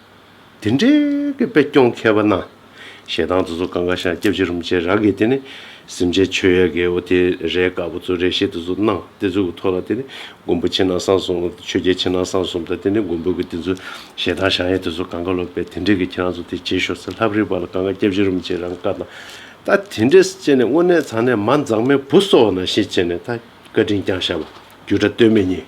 Speaker 2: དེ་འདྲའི་གི་དཔེ་སྐྱོང་མཁས་པ་ན། ཞེ་སྡང་དུ་གཟུགས་གང་ག་ཤར་སྐྱབས་ཅི་རུ་མི་བྱེད་ར་གི་དེ་ནི། སེམས་ཅན་མཆོད་ཡ་གི་འོ་དེ་རའི་དཀར་པོ་ཚུ་རའི་ཤེད་དུ་གཟུགས་སྣང་དེ་ཚུ་གི་ཐོ་ལ་དེ་ནི་མགོན་པོ་ཕྱི་ནང་གསང་གསུམ་ཆོས་རྒྱལ་ཕྱི་ནང་གསང་གསུམ་དང་དེ་ནི་མགོན་པོ་གི་དེ་ཚུ་ཞེ་སྡང་བྱང་ཡ་དེ་ཚུ་གང་ག་ལོག་པའི་དེ་འདྲའི་གི་ཁྱེད་རང་ཚོ་དེ་བྱེད་ཤོག་ཚེ་ལྷབ་རིག་པ་ལ་གང་ག་སྐྱབས་ཅི་རུ་མི་བྱེད་རང་དཀར་དང། ད་དེ་འདྲས་སུ་བྱེད་ནས་དངོས་གནས་ཚང་ནས་མ་འཛག་མའི་བུ་སོག་ན་ཤེད་བྱེད་ནས་ད་བཀའ་དྲིན་རྐྱང་ཤ་བ་རྒྱུ་དྲ་སྟོད་སྨད་གཉིས།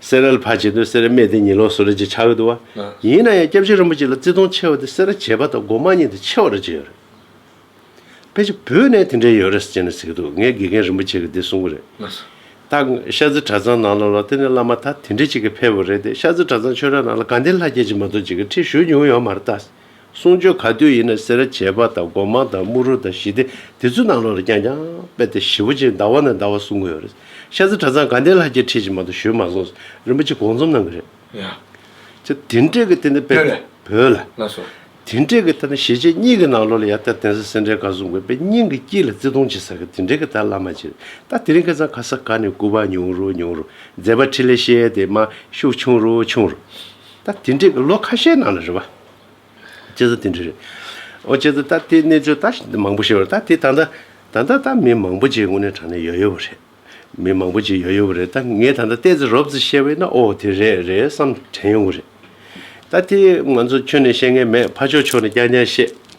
Speaker 2: སེ་རལ་བ་བྱེད་དུ་སེ་རལ་སྨད་དེ་ཉིན་ལོག་སུ་རལ་གྱི་ཆ་འོད་དུ་བ། ཡིན་ན་ཡང་སྐྱབས་རྗེ་རིན་པོ་ཆེ་ལ་བརྩི་མཐོང་ཆེ་བ་དེ་སེ་རལ་བྱེད་པ་དང་སྒོ་མ་གཉིས་དེ་ཆེ་བ་རུ་བརྗེད་ཡོད་རེད། ཕལ་ཆེར་བོད་ནས་དེ་འདྲའི་ཡོད་རེད་ཅེས་ནས་ཟེར་གྱི་འདུག་ངའི་དགེ་རྒན་རིན་པོ་ཆེ་གིས་དེ་གསུང་གི་རེད། རྟགས། ཤར་རྩེ་གྲྭ་ཚང་ནང་ལ་ལོག་དེ་ནས་བླ་མ་ད་དེ་འདྲས་ཅིག་གིས་ཕེབས་པ་རེད་དེ་ཤར་རྩེ་གྲྭ་ཚང་ཆོས་གྲྭ་ནང་ལ་གངས་ལྡན་ལྷ་རྒྱལ་གྱི་མ་གཏོགས་ཅིག་གིས་ཁྲིད་ཞུས་མྱོང་ཡོད་མ་རེད་ད། གསུང་ཆོས་ག་དུས་ཡིན་ན་སེར་བྱེས་པ་དང་སྒོ་མང་དང་དམུ་རུ་དང་ཞི་བདེ་དེ་ཚོའི་ནང་ལོགས་ལ་ཀྱང་ཀྱང་དཔེ་དེ་ཞིབ་པོ་ཅིག་ཟླ་བ་ནས་ཟླ་བ་གསུང་གི་ཡོད་རེད། ཤ་ཚ་གྲ་ཚང་དགའ་ལྡན་ལྷ་རྒྱལ་ཁྲིད་ཅིག་མ་གཏོགས་ཞུས་མ་སོང་ཟེར་རིན་པོ་ཆེ་དགོངས་རྩོམ་གནང་གི་རེད།
Speaker 1: ཡ། དེ་
Speaker 2: འབྲེལ་གྱི་དེ་ནས་དཔེ་བོད་ལ། དེ་
Speaker 1: འབྲེལ་གྱི་ད་ནི་
Speaker 2: ཞེ་ཆེ་གཉིས་ཀྱི་ནང་ལོགས་ལ་ཡར་ལྟ་དེང་སང་སེར་འབྲས་དགའ་གསུང་དགོས་པས་སྙིང་གི་དཀྱིལ་ལ་བརྩེ་གདུང་ཆེ་ས་གི་དེ་འབྲེལ་གྱི་ད་བླ་མ་ཅིག་ད་དེ་རིང་ཁྱེད་ཚང་ག་ས་ག་ནས་སྐུ་པར་ཉུང་རུ་ཉུང་རུ་མཛད་པ་ཁྲི་ལས་ཤེས་དེ་མ་ཤུགས་ཆུང་རུ་ཆུང་རུ། ད་དེ་འདྲས་ལོ་ཁ་ཤས་ནང་ལ་རེད་བ། བྱེད་ས་དེ་འདྲས་རེད། ཨོ་བྱེད་ས་ད་དེ་གནས་ཚུལ་ད་མང་པོ་ཤེས་བ་ད་དེ་ད་ད་ད་ད་ད་མི་མང་པོ་བྱེད་དངོས་གནས་དྲང་གནས་ཡོད་ཡོད་བ་རེད། མི་མང་པོ་བྱེད་ཡོད་ཡོད་བ་རེད་ད་ངས་ད་ད་བལྟས་ཚེ་རོབ་ཚེ་ཤེས་བས་ན་ཨོ་དེ་རེད་རེད་བསམ་དྲན་ཡོང་གི་རེད། ད་དེ་ང་ཚོ་ཁྱོན་ནས་ཤེས་མཁན་མེད་ཕ་ཕྱོགས་ཕྱོགས་ནས་རྐྱང་རྐྱང་བཤད།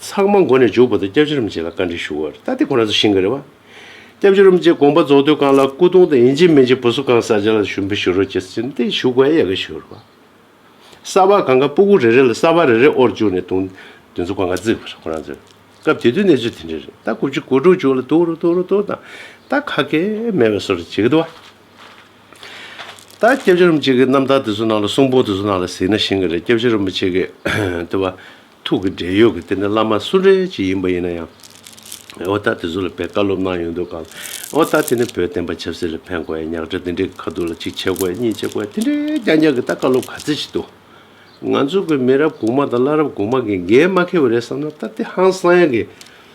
Speaker 2: ཚང་མ་མགོ་ནས་འཇུག་པ་དང་སྐྱབས་རྗེ་རིན་པོ་ཆེ་ལ་བཀའ་དྲིན་ཞུ་བར་ལྟ་དེ་ཁོ་ན་ཚོ་ཤིང་གི་རེད་བ། སྐྱབས་རྗེ་རིན་པོ་ཆེ་དགོངས་པ་རྫོགས་དུས་གང་ལ་སྐུ་གདུང་དང་ཡིན་གཅིག་མིན་གཅིག་བུ་སུ་གང་ས་ཅན་ལ་ཞུ་འབུལ་ཞུ་རོགས་ཀྱི་སེམས་སྟེང་ཞུ་དགོས་ཡག་གི་ཞུ་རོགས། གསར་བ་གང་ག་སྤུ་གུ་རེ་རེ་ལ་གསར་བ་རེ་རེ་དབོར་བཅུག་ནས་དུང་དུང་ཚོ་གང་ག་བརྩིགས་པར་ཁོ་རང་ཚོས་སྐབས་དེ་དུས་གནས་ཚུལ་དེ་འདྲའི་རེད་ད་དགུ་བཅུ་དགུ་དྲུག་ཅུ་ལ་དུག་རུ་དུག་རུ་དུག་དང་ད་ཁ་སྐད་མེད་པའི་སོ་རུ་བྱེད་གི་འདུག་བ། ད་སྐྱབས་རྗེ་རིན་པོ་ཆེ་གི་རྣམ་ཐར་དེ་ཚོ་ནང་ལ་གསུང་པོ་དེ་ཚོ་ནང་ལ་གཟིགས་ན་ཤིང་གི་རེད་སྐྱབས་རྗེ་རིན་པོ་ཆེ་གི་དེ་བ་ཐུགས་ཀྱི་འབྲེལ་ཡོད་ཀྱི་དེ་ནི་བླ་མ་སུ་འདྲེ་ཅིག་ཡིན་པ་ཡིན་ན་ཡང་འོ་ད་དེ་ཚོ་ལ་བེད་ཀ་སློབ་གནང་ཡོང་འདོད་གང་འོ་ད་དེ་ནི་བོད་བསྟན་པ་ཆབ་སྲིད་ལ་ཕན་དགོས་ཡ་ཉག་ཕྲ་དེ་འདྲེ་གི་ཁ་ཐུག་ལ་ཅིག་བྱེད་དགོས་ཡ་གཉིས་བྱེད་དགོས་ཡ་དེ་འདྲེ་རྐྱང་རྐྱང་གི་ད་བཀའ་སློབ་ག་ཚད་ཅིག་འདུག་ང་ཚོ་གི་མི་རབས་གོང་མ་དང་བླ་རབས་གོང་མ་གི་འགན་མ་ཁེ་བ་རེད་བསམ་ན་ད་དེ་ཧང་སང་ཡ་གི་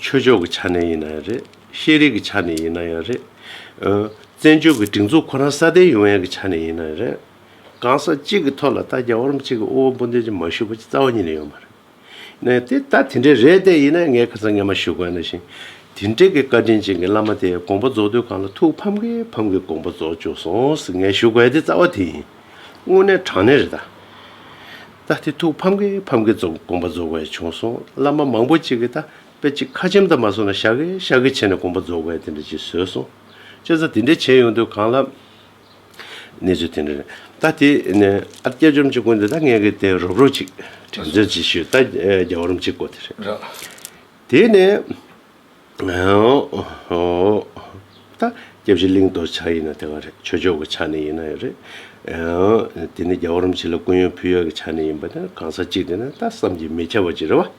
Speaker 2: ཆོས་ཕྱོགས་ཀྱི་ཆ་ནས་ཡིན་ན་ཡང་རེད། ཤེས་རིག་གི་ཆ་ནས་ཡིན་ན་ཡང་རེད། བཙན་བྱོལ་གྱི་སྒྲིག་འཛུགས་ཁོ་རང་སྲ་བརྟན་ཡོང་ཡན་གྱི་ཆ་ནས་ཡིན་ན་ཡང་རེད། གང་ཟག་གཅིག་གི་ཐོག་ལ་ལྟ་རྒྱ་བོར་གཅིག་གི་དབུ་བ་འབུ་འདོད་ཀྱི་མ་ཞུ་བ་ཅི་རྩ་བ་ཉིད་ནས་ཡོད་མ་རེད། ནས་དེ་ལྟ་དེ་འདྲའི་རེད་ལྟས་ཡིན་ན་ངས་ཁ་ཚ་ངས་མ་ཞུ་དགོས་ན་ཞིང། དེ་འདྲའི་གི་བཀའ་དྲིན་ཅན་གྱི་བླ་མ་དེས་དགོངས་པ་རྫོགས་དུས་གང་ལ་ཐུགས་ཕམ་གི་ཕམ་གི་དགོངས་པ་རྫོགས་བཅུག་སོང་ཟེར་ངས་ཞུ་དགོས་ཏེ་རྩ་བ་དེ་ཡིན། དངོས་གནས་དྲང་གནས་རེད་ད། ད་དེ་ཐུགས་ཕམ་གི་ཕམ་གི་ཙོག་དགོངས་པ་རྫོགས་བས་བྱུང་སོང་བླ་མ་མང་པོ་གཅིག་གི་ད་དཔེ་གཅིག་ཁ་ཆེམས་དང་མ་སོང་ན་ཤ་གི་ཤ་གི་བྱས་ནས་དགོངས་པ་རྫོགས་བས་དེ་འདྲ་གཅིག་བཟོས་སོང་བཅས་ས་དེ་འདྲ་བྱས་ཡོང་དུས་གང་ལབ། གནས་ཚུལ་དེ་འདྲ་རེད་ད་དེ་ནས་ཨ་སྐྱ་ཅོམ་ཅིག་དགོན་དེ་ད་ངས་གི་དེ་རོབ་རོབ་གཅིག་དྲང་བརྩོན་གྱིས་ཞུས་ད་རྒྱ་བོར་རམ་གཅིག་གོ་དེ་རེད། དེ་ནས། ད། སྐྱབས་གཞི་གླིང་གཏོར་ཆ་ཡིན་ན་དེ་ག་རེད་ཆོས་ཕྱོགས་ཀྱི་ཆ་ནས་ཡིན་ན་ཡོད་རེད། དེ་ནི་རྒྱ་གོ་རིམ་བྱེད་ལ་ཀུན་ཡོད་ཕུལ་ཡོད་ཀྱི་ཆ་ནས་ཡིན་པ་དེ་གང་ཟག་གཅིག་དེ་ན་ད་བསམ་གྱིས་མི་ཁྱབ་པ་ཅིག་རེད་བ།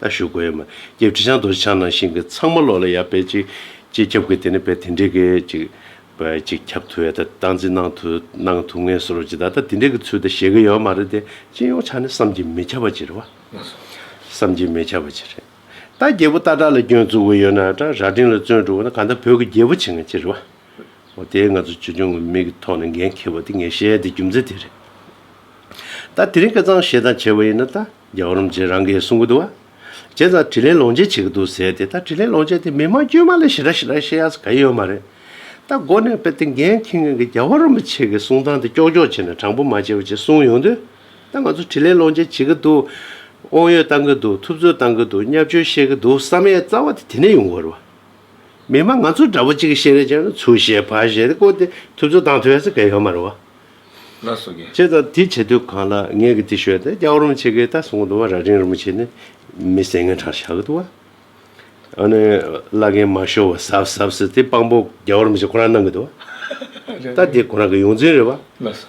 Speaker 2: ད་ཞུ་དགོས་ཡོད་མ་སྐྱེས་ཁྲི་བྱང་གཏོར་ཆ་ནང་བཞིན་གྱི་ཚང་མ་ལོག་ལ་ཡ་བེད་ཅིག་ཅིག་ཁྱབ་གི་དེ་ནི་བེད་དེ་འདྲེ་གི་ཅིག་བེད་ཅིག་ཁྱབ་ཐུ་ཡ་ད་སྟངས་འཛིན་གནང་ཐུ་གནང་ཐུ་ངེས་སོ་རོ་ཅིག་ད་ད་དེ་འདྲེ་གི་ཚུལ་ད་བཞེད་གི་ཡོད་མ་རེད་དེ་སྤྱི་ཡོངས་ཆ་ནས་བསམ་གྱིས་མི་ཁྱབ་པ་ཅིག་རེད་བ། བསམ་གྱིས་མི་ཁྱབ་པ་ཅིག་རེད། ད་རྒྱལ་པོ་སྟག་བྲག་ལ་སྐྱོན་བཙུགས་པ་ཡོད་ན་བྲག་རྭ་སྤྲིན་ལ་བཙོན་བཀྲུ་བ་ན་གང་ལྟར་བོད་ཀྱི་རྒྱལ་པོ་བྱེད་མཁན་ཅི་རེད་བ། འོ་དེ་ང་ཚོ་ཆོས་འབྱུང་གི་མིག་གི་ཐོག་ནས་འགན་འཁྱེར་བ་དེ་ངས་བཤད་དེ་རྒྱུ་མཚན་དེ་རེད། ད་དེ་རིང་སྐལ་བཟང་ཞེ་སྡང་བྱེད་པ་ཡིན་ན་ད་རྒྱ་གར་རམ་རྗེ་རང་གས་གསུང་གི་འདུག་བ། བྱས་ཙང་དྲིན་ལན་ལོངས་སྤྱད་བྱེད་ཀྱི་འདུག་ཟེར་ཏེ་ད་དྲིན་ལན་ལོངས་སྤྱད་དེ་མི་དམངས་དཀྱུས་མ་ལ་ཞེ་དྲག་ཞེ་དྲག་བཤད་ཡག་ས་ག་ཡོད་མ་རེད། ད་མགོ་ནས་དཔེ་དེ་འགན་འཁྱེར་མཁན་གྱི་རྒྱ་བོ་རིན་པོ་ཆེ་གས་གསུང་སྟངས་དེ་ཀྱོག་ཀྱོག་བྱས་ན་དྲང་པོ་མ་བྱས་པ་བྱས་གསུང་ཡོང་དུས། ད་ང་ཚོ་དྲིས་ལན་སློང་བྱེད་བྱེད་ཀྱི་འདུག་དབང་ཡོད་བཏང་གི་འདུག་ཐུབ་ཚོད་བཏང་གི་འདུག་སྙབ་བཅོལ་བཤད་ཀྱི་འདུག་བསམ་ཡས་རྩ་བ་དེ་དེ་ནས་ཡོང་གི་རེད་བ། མི་མང་ང་ཚོ་འདྲ་པོ་གཅིག་གིས་བཤད་རེས་བྱས་ན་ཚུར་བཤད་ཕར་བཤད་དེ་བཀོལ་ཏེ་ཐུབ་ཚོད་བཏང་ཐུབ་ཡས་ས་གས་ཡོད་མ་རེད་བ། ལགས་སོ་
Speaker 1: གས། བྱས་ཙང་དེ་བྱེད་
Speaker 2: དུས་གང་ལ་ངས་གི་དེ་ཤོད་དེ་སྐྱག་རོམ་བྱེད་ཀྱི་ད་སོང་གི་འདུག་བ་ར་རིང་རིང་པོ་བྱས་ནས་མི་སེང་ངན་གྲགས་བྱ་གི་འདུག་བ། ཨ་ནི་བླ་རྒན་མ་ཤོར་བ་ཟབ་ཟབ་ཟེར་དེ་དཔང་པོ་རྒྱག་རོམ་བྱེད་ཁོ་རང་གནང་གི་འདུག་བ། ད་དེ་ཁོ་རང་གི་ཡོངས་འཛིན་རེད་བ། ལགས་སོ།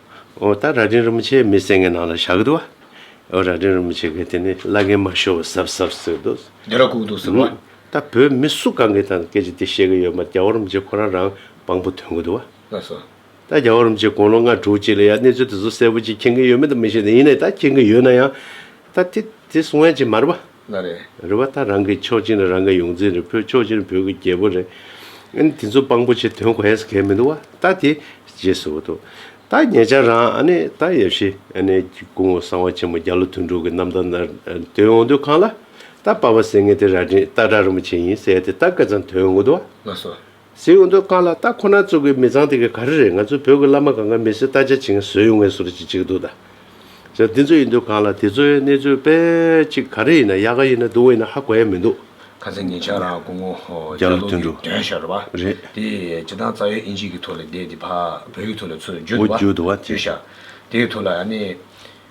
Speaker 2: ཨོ་ད་རྭ་སྒྲེང་རིན་པོ་ཆེའི་མི་སེང་གེ་ནང་ལ་ཞག་གི་འདུག་བ། ཨོ་རྭ་སྒྲེང་རིན་པོ་ཆེ་གི་དེ་ནི་བླ་རྒན་མ་ཤོ་བོ་ཟབ་ཟབ་ཟེར་འདུག། རྒྱ་ར་ཁུག་འདུག་ཟེར་བ།
Speaker 1: ད་བོད་མི་སུ་
Speaker 2: གང་གི་ཐང་སྐད་ཀྱི་དེ་ཤེས་གི་ཡོད་མ་རྒྱ་བོ་རིན་པོ་ཆེ་ཁོ་རང་རང་དཔང་པོ་དོན་གི་འདུག་བ། ལགས་སོ།
Speaker 1: ད་རྒྱ་བོ་རིན་པོ་ཆེ་
Speaker 2: དགུང་ལོ་ལྔ་དྲུག་གཅིག་ལ་ཡ་གནས་ཚུལ་དེ་ཚོ་གསལ་པོ་གཅིག་མཁྱེན་གི་ཡོད་མེད་དུ་མི་ཤེས་ད་ཡིན་ནའི་ད་མཁྱེན་གི་ཡོད་ན་ཡང། ད་དེ་དེ་གསུང་ཡ་ཅིག་མ་རེད་བ། ན་རེ། རེ་བ་
Speaker 1: ད་རང་གི་
Speaker 2: མཆོག་སྦྱིན་རེ་རང་གི་ཡོངས་འཛིན་རེ་བོད་མཆོག་སྦྱིན་བོད་ཀྱི་རྒྱལ་པོ་རེ། ཨཱནི་དེ་ཚོ་དཔང་པོ་ཆེ་དོན་གོ་ཨེས་གལ་མི་འདུག་བ་ད་དེ་རྗེས་སུ་འདུག་ད་ངེད་ཅག་རང་ཨཱནི་ད་ཡབ་ཤི་ཨཱནི་སྐུ་ངོ་གསང་བ་ཆེན་མོ་རྒྱ་ལོ་དུད་འགྲོ་གི་རྣམ་ཐར་ནར་དོན་འོང་དུས་ཁང་ལ་ད་པ་བ་སེ་ངེད་དེ་ར་དྲིན་ད་དྲ་རིན་པོ་ཆེ་ཡིན་ཟེར་ཡ་དེ་ད་སྐལ་བཟང་དོན་འོང་དུ་བ། ན་སོ། གཟིགས་
Speaker 1: འོ་འདོད་དཀར་ལ་
Speaker 2: རྟ་ཁོ་ན་བཙུགས་དགོས་མི་ཚང་དེ་ག་ག་རེ་རེད་ང་ཚོའི་བོད་ཀྱི་བླ་མ་གང་ག་མི་སེར་རྟ་ཆ་བྱིན་ག་ཟོས་ཡོང་ངེས་སོ་རེ་ཅིག་ཅིག་འདུག་ད་ཆ་འདི་ཚོ་ཡིན་འདོད་གང་ལ་དེ་ཚོའི་གནས་ཚུལ་དཔེ་ཅིག་ག་རེ་ཡིན་ན་ཡག་ག་ཡིན་ན་སྡུག་ག་ཡིན་ན་ཧ་གོ་ཡ་མི་འདུག། ཁ་ཚ་ཉེ་ཆར་ར་
Speaker 1: སྐུ་ངོ་རྒྱ་ལོ་དོན་འགྲུབ་དོན་
Speaker 2: ཤར་བ་རེད།
Speaker 1: དེས་སྤྱི་
Speaker 2: བཏང་རྩ་
Speaker 1: བའི་ཨིན་ཇིས་ཀྱི་ཐོག་ལས་བསྡད་དེ་བ་བོད་ཡིག་ཐོག་ལས་ཚུར་འགྱུར་འོ་འདུག་བ་འགྱུར་འདུག་བ་དེ། དེ་ཤར་
Speaker 2: དེའི་
Speaker 1: ཐོག་ལ་ཡ་ནི།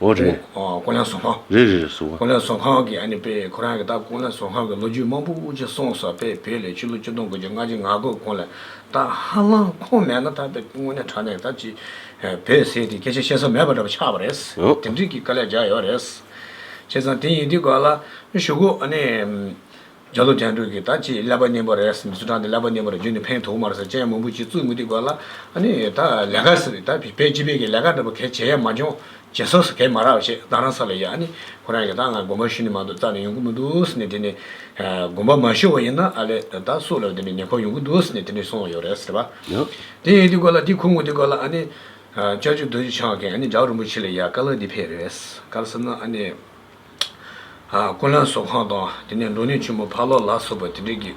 Speaker 1: ཨོ་
Speaker 2: རེད།
Speaker 1: ཀུན་གླེང་ཟོག་
Speaker 2: ཁང། རེད་རེད་ཟོག་ཁང།
Speaker 1: ཀུན་གླེང་ཟོག་ཁང་གི་ཨ་ནི་དཔེ་ཁོ་རང་གི་ད་ཀུན་གླེང་ཟོག་ཁང་གི་ལོ་རྒྱུས་མང་པོ་དབུ་འབྱེད་སོང་ས་དཔེ་བོད་ལས་ཕྱི་ལོ་བཅུ་སྟོང་དགུ་བརྒྱ་སྔ་ཕྱི་ང་དགོས་མཁོ་ལས་ད་ཧ་ལམ་ཁོང་མེད་ན་ད་དཔེ་དངོས་གནས་དྲ་གནས་ད་ཅི་བོད་ཟེར་དེ་སྐད་ཆ་བཤད་ས་མེད་པ་འདྲ་པོ་ཆགས་པ་རེད། དེ་འགྲིག་གི་དཀའ་ལས་རྒྱག་ཡོད་རེད། བྱས་ཙང་དེ་ཡིན་དུས་ག་ལ་ཞུ་གོ་ཨ་ནི། རྒྱ་མཚོ་རྒྱང་དྲུག་གིས་ད་ཅི་ཀླད་པ་སྙན་པོ་རེད་ཟེར་མི་ཚོ་དྲངས་ཏེ་ཀླད་པ་སྙན་པོ་རེད་བརྗོད་ནས་ཕན་ཐོག་མར་ཟེར་ཅན་མང་པོ་ཅིག་ཙུག་མི་ཐིག་པ་ལ་ཨ་ནི་ད་ལས་ཀ་ཟེར་ད་བི་བེ་ཅི་བེ་གི་ལས་ཀ་འདྲ་པོ་གས་བྱས་ཡ་མ་འཇོང་བྱེད་སོགས་སུ་གས་མ་རག་བྱས་ད་རང་ས་ལ་ཡ་ཨ་ནི་ཁོ་རང་གི་ད་ང་དགོན་པ་ཤུ་ནི་མང་དུ་བཙག་ནས་ཡོང་གི་མི་འདུག་ཟེར་ནས་དེ་ནི་དགོན་པ་མ་ཤོ་བ་ཡིན་ན་ཨ་ལས་ད་སུ་ལ་དེ་ནི་ཉེ་འཁོར་ཡོང་གི་འདུག་ཟེར་ནས་དེ་ནི་སོང་ཡོད་རེད་ཟེར་བ། དེ་ཡིན་དེ་ཀོ་ལ་དེ་ཁུ་ངོ་དེ་ཀོ་ལ་ཨ་ནི། ལྕགས་ཀྱུ་རྡོ་རྗེ་འཆང་གས་ཨ་ནི་འཇག་རིན་པོ་ཆེ་ལ་ཡ་ཀ་ལ་འདི་ཕེབས་རེད་ཟེར་ཀར་སེམས་ན་ཨ་ནི། སྐུ་ལན་བཟོ་ཁང་དང་དེ་ནས་འབྲུག་གནས་ཆེན་མོ་ཕག་ལོག་ལ་སོགས་པ་དེ་འདྲས་ཀྱི་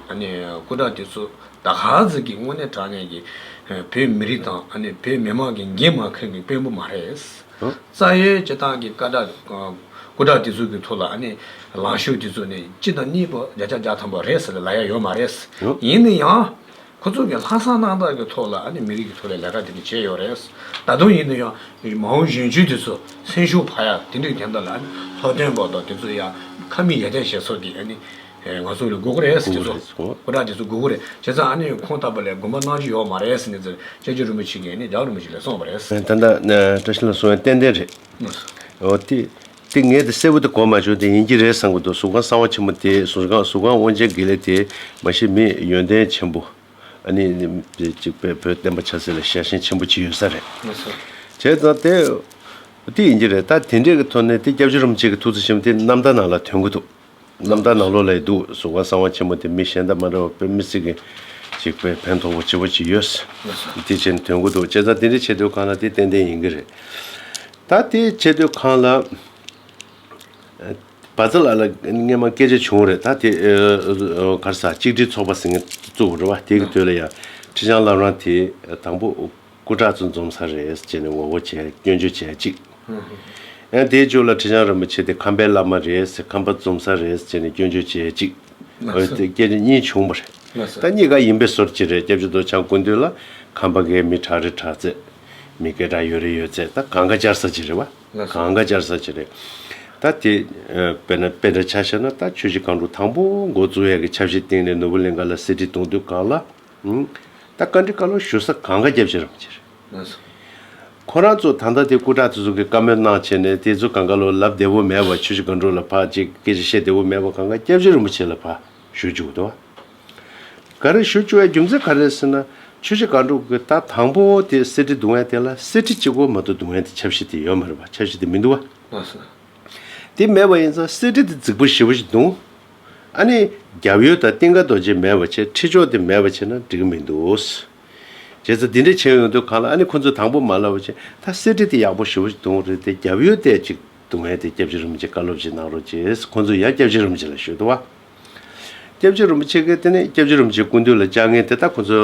Speaker 1: སྐུ་དྲག་དེ་ཚོ་ད་ག་ཟིག་གི་དངོས་གནས་དྲག་གནས་ཀྱི་བོད་མི་རིགས་དང་བོད་མི་དམངས་ཀྱི་འགན་མ་འཁུར་བའི་དཔོན་པོ་མ་རེད། རྩ་ཡོལ་བྱེད་སྟངས་ཀྱི་སྐུ་དྲག་དེ་ཚོ་གི་ཐུགས་ལ་ལངས་ཤོག་དེ་ཚོ་ནས་སྤྱི་དང་གཉིས་པོ་བརྒྱ་ཆ་བརྒྱ་ཐམ་པ་རེད་ཟེར་ལ་ཡ་ཡོད་མ་རེད། ཡིན་ནི་ཡང། ཁོ་ཚོ་གིས་ལྷག་བསམ་རྣག་ཐག་གི་ཐོག་ལ་ཨ་ནི་མི་རིགས་ཀྱི་ཐོག་ལས་ལས་ཀ་དེ་འདྲ་བྱས་ཡོད་རེད། ད་དུང་ཡིན་ན་ཡང་མ་འོངས་གཞོན་སྐྱེས་དེ་ཚོ་སེམས་ཤུགས་འཕར་ཡག་དེ་འདྲའི་རྒྱབ་འདྲ་ལ་ཨ་ནི་ལྷོ་སྟོན་པོ་དང་དེ་ཚོ་ཡང་ཁ་མིག་ཡ་ཏན་བྱས་ཚོ་དེ་ཨ་ནི་ང་ཚོ་ལས་སྒུག་གོ་རེད་དེ་ཚོ་སྐུ་དྲག་དེ་ཚོ་སྒུག་གོ་རེད་བྱས་ཙང་ཨ་ནི་ཁོང་ལྟ་བུ་ལས་དགོན་པ་གནང་རྒྱུ་ཡོད་མ་རེད་ཟེར་ནས་ཟེར་ཅད་ཅི་རིན་པོ་ཆེ་གིས་ཨ་ནི་རྒྱ་རིན་པོ་ཆེ་ལས་གསུངས་པ་རེད། ད་ལྟ་བཀྲ་ཤིས་
Speaker 2: ལ་སོང་ཡང་ཏན་ཏན་རེད། འོ་དེ། ཏིང་ངེ་འདི་གསལ་བོ་དེ་གོ་མ་བྱུང་དེ་ཡིན་གྱི་རེད་བསམ་གྱི་འདུག་གཟུགས་ཁང་གསང་བ་ཆེན་མོ་དེའི་གཟུགས་ཁང་གཟུགས་ཁང་དབང་ཆེན་དགེ་ལེགས་དེ་མ་ཤེས་མི་ཡོན་ཏན་ཆེན་པོ། ཨ་ནི། གཅིག་པས་བོད་བསྟན་པ་ཆགས་ཚད་ལ་ཞལ་ཞེན་ཆེན་པོ་བྱེད་ཡོད་ས་རེད། མི་སོ། བྱས་ཙང་དེ། དེ་ཡིན་གྱི་རེད་ད་དེ་འདྲས་ཀྱི་ཐོག་ནས་དེ་སྐྱབས་རྗེ་རིན་པོ་ཆེ་གི་ཐུགས་བརྩེ་ཆེན་པོ་དེ་ནམ་ད་ནང་ལ་དོན་གྱི་འདུག། རྣམ་དག་ནང་ལོགས་ལས་སྡུག་གཟུགས་བ་གསང་བ་ཆེན་མོ་དེ་མི་གཞན་དང་མ་འདྲ་བར་དཔེ་མི་སྲིད་མཁན་ཞིག་པས་ཕན་ཐོགས་པོ་ཆེ་བོ་ཅིག་ཡོད། དེ་བྱས་ནས་དོན་གོ་འདུག་བྱས་ཙང་དེ་འདྲའི་ཆེ་བསྟོད་ཁང་ལ་དེ་ཏན་ཏན་ཡིན་གྱི་རེད། ད་དེ་ཆེ་བསྟོད་ཁང་ལ་བ་ཚ་ལ་ལ་སྔན་མ་སྐད་ཆ་བྱུང་བ་རེད་ད་དེ་གར་ས་གཅིག་སྒྲིལ་ཚོགས་པ་ཟེར་མཁན་བཙུགས་པ་རེད་བ་དེ་གི་དོད་ལ་ཡང་ཁྲི་བྱང་བླ་བྲང་དེ་དང་པོ་སྐུ་དྲག་ཚོ་འཛོམས་ས་རེད་ཅེས་ནས་ངོ་བོ་བྱས་སྐྱོན་བརྗོད་བྱས་གཅིག། ཡང་དེའི་མཇུག་ལ་ཁྲི་བྱང་རིན་པོ་ཆེ་དེ་ཁམས་པའི་བླ་མ་རེད་ཁམས་པ་འཛོམས་ས་རེད་ཅེས་ནས་སྐྱོན་བརྗོད་བྱས་གཅིག། འོན་ཏེ་སྐད་ཆ་གཉིས་བྱུང་བ་རེད། ད་གཉིས་ཀ་ཡིན་པའི་ཟོར་གཅིག་རེད་སྐྱབས་རྗེ་རྡོ་བྱང་སྐུ་མདུན་ལ་ཁམས་པ་འགའི་མི་དྲག་རེ་དྲག་རྩེད། མི་སྐད་གྲགས་ཡོད་རེ་ཡོད་རྩེད་ད་གང་ག་བཅར་ས་ཅིག་རེད་བ། གང་ག་བཅར་ས་ཅིག་རེད། ད་དེ་དཔེར་ན་དཔེ་འདྲ་ཆ་བཤད་ན་ད་ཆོས་རྗེ་གང་དྲུག་དང་པོ་འགོ་བཙུགས་ཡས་ཀྱི་ཆབ་སྲིད་སྟེང་ནས་ནོར་བུ་གླིང་ག་ལ་གསེར་ཁྲི་གཏོང་དུས་གང་ལ། ད་བཀའ་འདྲི་བཀའ་སློབ་ཞུ་ས་གང་ག་རྒྱབ་བྱེད་རམ་བྱེད་རེད། ཁོ་རང་ཚོ་ད་ལྟ་དེ་སྐུ་དྲག་དེ་ཚོ་གི་བཀའ་མོལ་གནང་བྱས་ནས་དེ་ཚོ་གང་ག་ལོ་ལབ་བདེ་བོ་མེད་བ་ཆོས་ཤེས་ག་འགྲོ་ལ་ཕག་ཅིག་སྐད་ཆ་བཤད་བདེ་བོ་མེད་བ་གང་ག་སྐྱབས་བྱེད་རིན་པོ་ཆེ་ལ་ཕ་ཞུ་བཅུག་གདོ་བ་ག་རེ་ཞུ་བཅུག་བའི་རྒྱུ་མཚན་ག་རེད་ཟེར་ན་ཆོས་ཤེས་ག་འགྲོ་གི་ད་དང་པོ་བོ་དེ་གསེར་ཁྲི་བརྡུང་བས་དེ་ལ་གསེར་ཁྲི་གཅིག་གོ་མ་གཏོགས་བརྡུང་བས་དེ་ཆབ་གཞི་དེ་ཡོད་མ་རེད་བ་ཆབ་གཞི་དེ་མི་འདུག་བ་དེ་མེད་བ་ཡིན་ཙང་གསེར་ཁྲི་དེ་རྫིག་པོ་ཞེ་བོ་ཞིག་བརྡུང། ཨ་ནི། རྒྱབ་ཡོལ་དང་སྟེང་ཀ་རྡོ་རྗེ་མེད་པར་བྱེད་ཁྲི་ཕྱོགས་དེ་མེད་པར་བྱེད་ན་འགྲིག་གི་མི་འདུག། རྗེས་སུ་འདི་འདྲས་བྱེད་ཡོང་དུས་གང་ལ་ཨ་ནི་ཁོ་ཚོས་དང་པོ་མ་ལབ་པར་བྱེད་ད་གསེར་ཁྲི་དེ་ཡག་པོ་ཞི་བོ་ཞིག་དུང་རེ་དེ་རྒྱབ་ཡོལ་གཏད་ཅིག་དུང་ཧེ་དེ་སྐྱབས་རྗེ་རིན་པོ་ཆེ་བཀའ་སློབ་ཅིག་གནང་རོགས་ཅེས་ཁོ་ཚོས་ཡང་སྐྱབས་རྗེ་རིན་པོ་ཆེ་ལ་ཞུས་ཏོ། སྐྱབས་རྗེ་རིན་པོ་ཆེ་གིས་དེ་ནས་སྐྱབས་རྗེ་རིན་པོ་ཆེའི་སྐུ་མདུན་ལ་བཅར་ངེས་དེ་ད་ཁོ་ཚོ།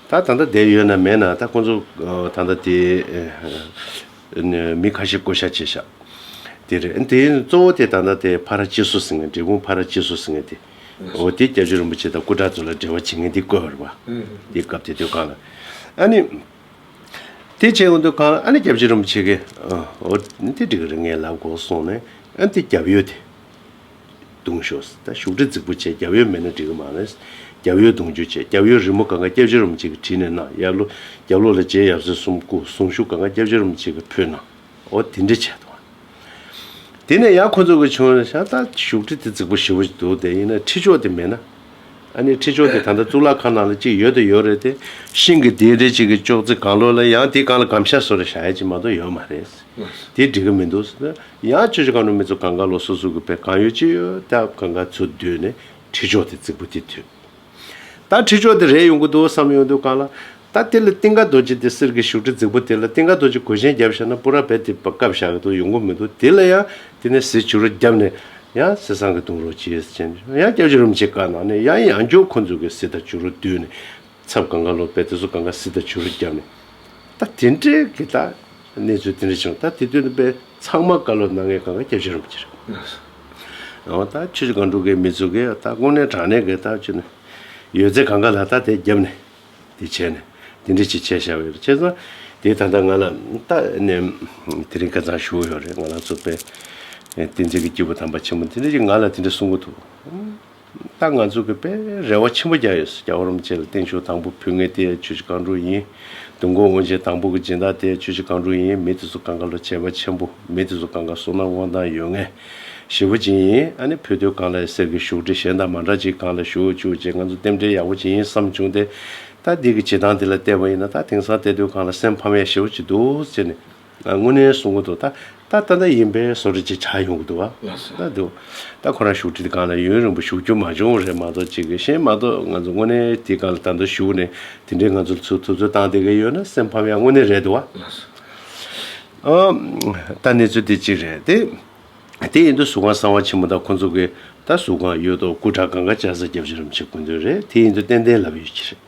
Speaker 2: ད་ད་ལྟ་བསྡད་ཡོད་ན་མེད་ན་ད་ཁོ་ཚོ་ད་ལྟ་དེ། མི་ཁ་ཤས་བསྐོ་བཞག་བྱས་ཤག་དེ་རེད། དེ་གཙོ་བོ་དེ་ད་ལྟ་དེ་བྷ་ར་ཅི་སོ་ཟེར་ངན་འབྲས་སྤུངས་བྷ་ར་ཅི་སོ་ཟེར་ངན་དེ། འོ་དེ་རྒྱ་ཆོས་རིན་པོ་ཆེ་དང་སྐུ་དྲག་ཚོ་ལ་འབྲེལ་བ་བྱེད་ངན་དེ་བསྐོས་བར་བ། དེ་སྐབས་དེ་དོན་གང་ལ། ཨ་ནི། དེ་བྱས་ངོ་དོན་གང་ལ་ཨ་ནི་རྒྱ་ཆོས་རིན་པོ་ཆེ་གིས། འོ་དེ་འགྲིག་གི་རེད་ངའི་ལབ་དགོ་སོང་ནས་ཨ་དེ་རྒྱབ་ཡོད་དེ། གདུང་ཞོ། ཞུགས་དྲི་རྫིག་པོ་བཅས་རྒྱབ་ཡོལ་མེད་ན་འགྲིག་གི་མ་རེད། རྒྱབ་ཡོལ་གདུང་རྒྱུ་བཅས་རྒྱབ་ཡོལ་རི་མོ་ག་འགའ་སྐྱབས་རྗེ་རུམ་གཅིག་གི་བྲིས་ནས་གནང་ཡབ་ལོ་རྒྱབ་ལོ་ལ་རྗེ་ཡབ་སྲས་གསུམ་སྐུ་གསུང་ཞུ་ག་འགའ་སྐྱབས་རྗེ་རུམ་གཅིག་གི་ཕུལ་གནང་འོ་དེ་འདྲི་བྱས་དང། དེ་ནས་ཡང་ཁོ་ཚོ་གི་བྱུང་རེད་ཤག་ད་ཞུགས་དྲི་དེ་རྫིག་པོ་ཞེ་པོ་ཅིག་འདུག་དེ་ཡིན་ན་ཁྲི་ཆོག་དེ་མེད་ན། ཨ་ནི་ཁྲི་ཆོག་དེ་ད་ལྟ་གཙུག་ལག་ཁང་ནང་ལ་གཅིག་ཡོད་དོ་ཡོད་རེད་དེ། ཤིང་གི་དེའི་འདྲེ་གཅིག་གི་ཅོག་ཙེ་གང་ལོག་ལ་ཡང་དེའི་གང་ལ་གམ་ཤ་ཟོ་རེ་ཤག་ཡ་གཅིག་མ་གཏོགས་ཡོད་མ་རེད། དེ་འགྲིག་གི་མི་འདུག་ཟེར་ན་ཡང་ཁྱོད་ཀྱི་གང་རུང་མི་ཚོ་གང་ག་ལོག་སོ་སོ་གི་བེད་གང་ཡོད་ཅི་ཡོད་ད་གང་ག་ཚོད་བསྡོད་ནས་ཁྲི་ཕྱོགས་དེ་རྩིག་པོ་དེ་དུས་ད་ཁྲི་ཕྱོགས་དེ་རེད་ཡོང་གི་འདུག་བསམ་ཡོང་དུས་གང་ལ་ད་དེ་ལ་ཏིང་ཀ་རྡོ་རྗེ་དེ་གསེར་གྱི་བཞུགས་ཁྲི་རྫིག་པོ་དེ་ལ་ཏིང་ཀ་རྡོ་རྗེ་གོས་ཆེན་བརྒྱབ་བཞག་ན་སྤུ་ར་བེད་དེ་བཀབ་བཞག་གི་འདུག་ཡོང་གི་མི་འདུག་དེ་ལ་ཡང་དེ་ནས་ཟས་བྱུ་རུ་བརྒྱབ་ནས་ཡང་ཟས་སྲང་གི་བཏུང་རོགས་གྱིས་ཟེར་ནས་ཡང་སྐྱབས་བྱུ་རུ་མི་བྱེད་ག་ནང་ནས་ཡང་ཡང་སྐྱོ་ཁོ་ཚོ་གི་ཟས་དང་བྱུ་རུ་བསྡུས་ནས་ཚབ་གངྒཱ་ལོག་པས་དེ་ཚོ་གངྒཱ་སི་ཏར་བྱུ་རུ་བརྒྱབ་ནས། ད་དེ་འདྲའི་གི་ད་གནས་ཚུལ་དེ་འདྲ་བྱུང་ད་དེ་དོན་པས་ཚང་མ་དཀའ་ལོ་གནང་ངས་གངྒཱ་བརྒྱབ་ཤེས་རུང་བགྱི་རུ། ཨོ་ད་ཁྱོད་ཀྱི་གང་འགྲོ་གི་མི་ཚོ་གི་ད་དགོང་ནས་དྲང་གནས་གི་ད་ཁྱོད་ནི། ཡོད་ཚད་གངྒཱ་ལ་ད་དེ་བརྒྱབ་ནས། དེ་བྱས་ནས་དེ་འདྲ་ཅིག་བྱས་ཤག་བས་བྱས་ཙང་དེ་ད་ལྟ་ང་ལ་ད་ནི། དེ་རིང་ཀ་ཚང་ཞུ་འོ་ཡོག་རེད་ང་ལ་ཚོ་པས། བསྟན་འཛིན་གི་སྐྱེས་བུ་དམ་པ་ཆེན་མོ་དེ་འདྲ་ཅིག་ང་ལ་དེ་འདྲ་གསུང་གི་འདུག། ད་ང་ཚོ་གི་པས་རེ་བ་ཆེན་པོ་རྒྱག་ཡོད་སོ་རྒྱ་བོ་རོམ་བཅས་ལ་བརྟེན་ཆོག་དང་པོ་བུད་ངེས་དེ་ཆོས་ཀྱི་རྐང་དྲུག་ཡིན། བདུན་དགོང་དབང་ཆེན་དང་པོ་གི་སྦྱིན་བདག་དེ་ཆོས་ཀྱི་རྐང་དྲུག་ཡིན་མི་དེ་ཚོ་གང་ག་ལ་བྱས་པ་ཆེན་པོ་མི་དེ་ཚོ་གང་ག་སོང་ན་དབང་ཐང་ཡོད་ངེས། བཞི་བོ་སྦྱིན་ཡིན་ཨ་ནི་བུ་དོལ་གང་ལ་ཡི་ཟེར་གི་བཞུགས་ཁྲི་གཞན་དང་མ་འདྲ་ཅིག་གང་ལ་བཞུགས་བཅུག་ཅེས་ང་ཚོ་རྟེན་འབྲེལ་ཡག་པོ་བྱེད་ཡིན་བསམ་བྱུང་སྟེ། ད་འདི་གི་བྱེད་སྟངས་འདི་ལ་བལྟས་པ་ཡིན་ན་ད་དེང་སང་དེ་དོལ་གང་ལ་སེམས་ཕམ་ཡ་ཞེ་བོ་ཅིག་འདུག་ཅེས་ནས། དངོས་གནས་གསུང་གི་འདུག་ད་ད་ལྟ་ད་ཡིན་པས་གསོ་རིག་ཅིག་བྱ་ཡོང་གི་འདུག་བ་ད་འདུག་ད་ཁོ་རང་བཞུགས་ཁྲི་དེ་གང་ལ་ཡུན་རིང་པོ་བཞུགས་རྒྱུ་མ་བྱུང་བ་རེད་མ་གཏོགས་ཅིག་གཞན་མ་གཏོགས་ང་ཚོ་དངོས་གནས་དེ་གང་ལ་ད་མདོར་བཞུགས་ནས་དེ་འདྲའི་ང་ཚོ་ལ་ཚུར་ཐུབ་ཚོད་བཏང་བསྡད་ཀྱི་ཡོད་ན་སེམས་ཕམ་ཡ་དངོས་གནས་རེད་འདུག་བ། ད་གནས་ཚུལ་དེ་གཅིག་རེད་དེ། དེ་ཡིན་དུས་གཟུགས་ཁང་གསང་བ་ཆེན་མོ་ད་ཁོ་ཚོ་གིས་ད་གཟུགས་ཁང་ཡོད་དོ་སྐུ་དྲག་གང་ག་བཅར་ས་རྒྱབ་ཅི་རམ་བྱེད་དགོས་དོན་རེད་དེ་ཡིན་དུས་ཏན་ཏན་ལབ་ཡོད་ཀྱི་རེད།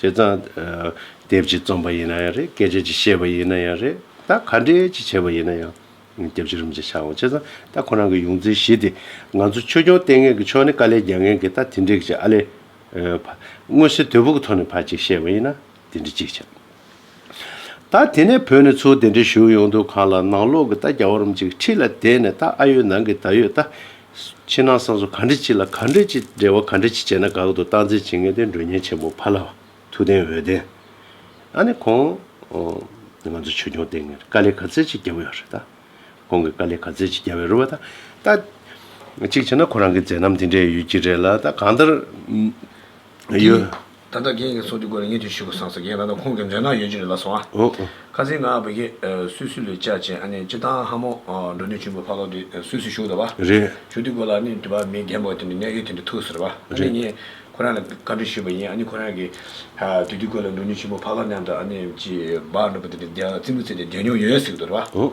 Speaker 2: བྱས་ཙང། དེབ་ཅིག་རྩོམ་པ་ཡིན་ན་ཡང་རེད་སྐད་ཆ་ཅིག་བཤད་པ་ཡིན་ན་ཡང་རེད། ད་ག་འདྲས་ཅིག་བྱས་པ་ཡིན་ན་ཡང། དེབ་ཅིག་རིམ་བཞིན་ཆགས་འོང་བྱས་ཙང་ད་ཁོ་རང་གི་ཡོངས་འཛིན་བཞི་དེ། ང་ཚོ་ཆོས་སྐྱོང་ལྟས་ངན་གྱི་ཕྱོགས་ནས་དཀའ་ལས་རྒྱག་མཁན་གྱི་ད་དེ་འདྲས་ཀྱི་ཨ་ལས། མངོན་གསལ་དོད་པོ་གྱི་ཐོག་ནས་ཕར་ཅིག་བཤད་པ་ཡིན་ན་དེ་འདྲས་ཅིག་བྱ། ད་དེ་ནས་བོད་ནས་ཚུར་དེ་འདྲའི་བཞུགས་ཡོང་དུས་གང་ལ་ནང་ལོག་གི་རྟ་རྒྱ་བོར་རམ་ཅིག་ཁྲི་ལ་དེད་ནས་རྟ་ཨ་ཡོད་ནང་གི་ད་ཡོད་རྟ། ཕྱི་ནང་གསང་སོ་ག་འདྲི་གཅིག་ལ་ག་འདྲི་གཅིག་འབྲེལ་བ་ག་འདྲི་གཅིག་བྱས་ན་དགའ་གི་འདུག་སྟངས་འཛིན་བྱེད་མཁན་དེ་མགྲོན་གཉེར་ཆེན་པོ་ཕ་ལྷ། ཐུགས་ལྡན་འོད་ལྡན། ཨ་ནི་ཁོང། ང་ཚོ་ཆོས་སྐྱོང་སྟེང་ངེར་དཀའ་ལས་ག་ཚད་ཅིག་རྒྱབ་ཡོད་རེད་ད། ཁོང་གིས་དཀའ་ལས་ག་ཚད་ཅིག་རྒྱབ་ཡོད་རེད་བ་ད། ད། གཅིག་བྱས་ན་ཁོ་རང་གི་མཛད་རྣམ་དེ་འདྲས་ཡོད་ཀྱི་རེད་ལ་ད་གང་ལྟར། ཡོད། ད་ལྟ་རྒན་
Speaker 1: གྱི་ཚོགས་འདུའི་སྐོར་ལ་ངས་དུས་ཤིག་གོ་སངས་སེ་རྒན་ད་ལྟ་ཁོང་གི་མཛེས་སྣང་ཡོད་ཅི་རེད་ལ་སོང་ཨ། ཁ་ཟས་ང་བི་གེ། སུད་སི་ལོའི་བཅའ་བྱེད་ཨ་ནེ་ཅི་ཐང་ཧ་མོ། འགྲོ་ནུས་ཆུན་པོ་ཕ་ལོག་དེ་སུད་སི་བཞུགས་ད་བ། རེད། བཞུགས་དུས་སྐོར་ལ་ཨ་
Speaker 2: ནེ་དེ་བ་
Speaker 1: མི་རྒན་པོ་དེ་ནི་གནད་ཡོད་དེ་འདྲ་ཐུག་ཟེར་བ། ཨ་ནེ་ངས་ཁོ་རང་ལ་བཀའ་འདྲི་ཞུས་པ་ཡིན་ཨ་ནེ་ཁོ་རང་གི། དུས་དུས་སྐོར་ལ་འགྲོ་ནུས་ཆུན་པོ་ཕ་ལོག་མཉམ་དུ་ཨ་ནེ་ཅི་བ་འགྲོ་པ་དེ་འདྲ་བརྩི་འབུ་བརྩེས་ཏེ་བསྡད་མྱོང་ཡོད་ཟེར་གི་འདུག་རེད་བ།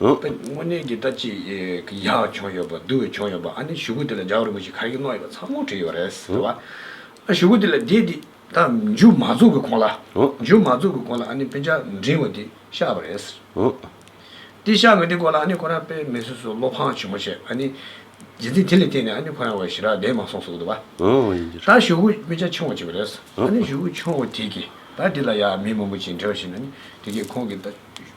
Speaker 1: ཨོ། དངོས་གནས་ཀྱི་ལྟ་ཅི། ཀྱི་ཡག་བྱུང་ཡོད་པ་བསྡུ་བའི་བྱུང་ཡོད་པ་ཨ་ནི་ཞུ་གུ་དེ་ལ་འཇགས་རིང་པོ་ཞིག་ཁ་ཡི་གནོག་ཡོད་པ་ཚང་མོ་བྲིས་ཡོད་རེད་ཟེར་བ། ཨ་ཞུ་གུ་དེ་ལ་རྒྱས་དེ་ད་མཇུག་མ་རྫོགས་ཀྱི་གོང་ལ། མཇུག་མ་རྫོགས་ཀྱི་གོང་ལ་ཨ་ནི་དཔེ་ཆ་འབྲིང་བ་དེ་ཤར་བ་རེད་ཟེར། དེ་ཤར་བའི་དེ་སྐོར་ལ་ཨ་ནི་ཁོ་རང་དཔེ་མེད་སོ་སོ་བློ་ཕངས་ཆེན་པོ་བྱས་ཨ་ནི། རྗེས་འདི་དེ་ལས་བརྟེན་ནས་ཨ་ནི་ཁོ་རང་བའི་ཞི་རགས་བདེ་མ་སོང་ཟུག་འདུག་བ། ད་ཞུ་གུ་དཔེ་ཆ་ཆུང་བ་བྱས་པ་རེད། ཨ་ནི་ཞུ་གུ་ཆུང་བ་དེ་གིས་ད་དེ་ལ་ཡ་མི་མང་པོ་བྱས་འབྲེལ་བ་བྱས་ནས་ཨ་ནི་དེ་གིས་ཁོང་གི་ལྟ།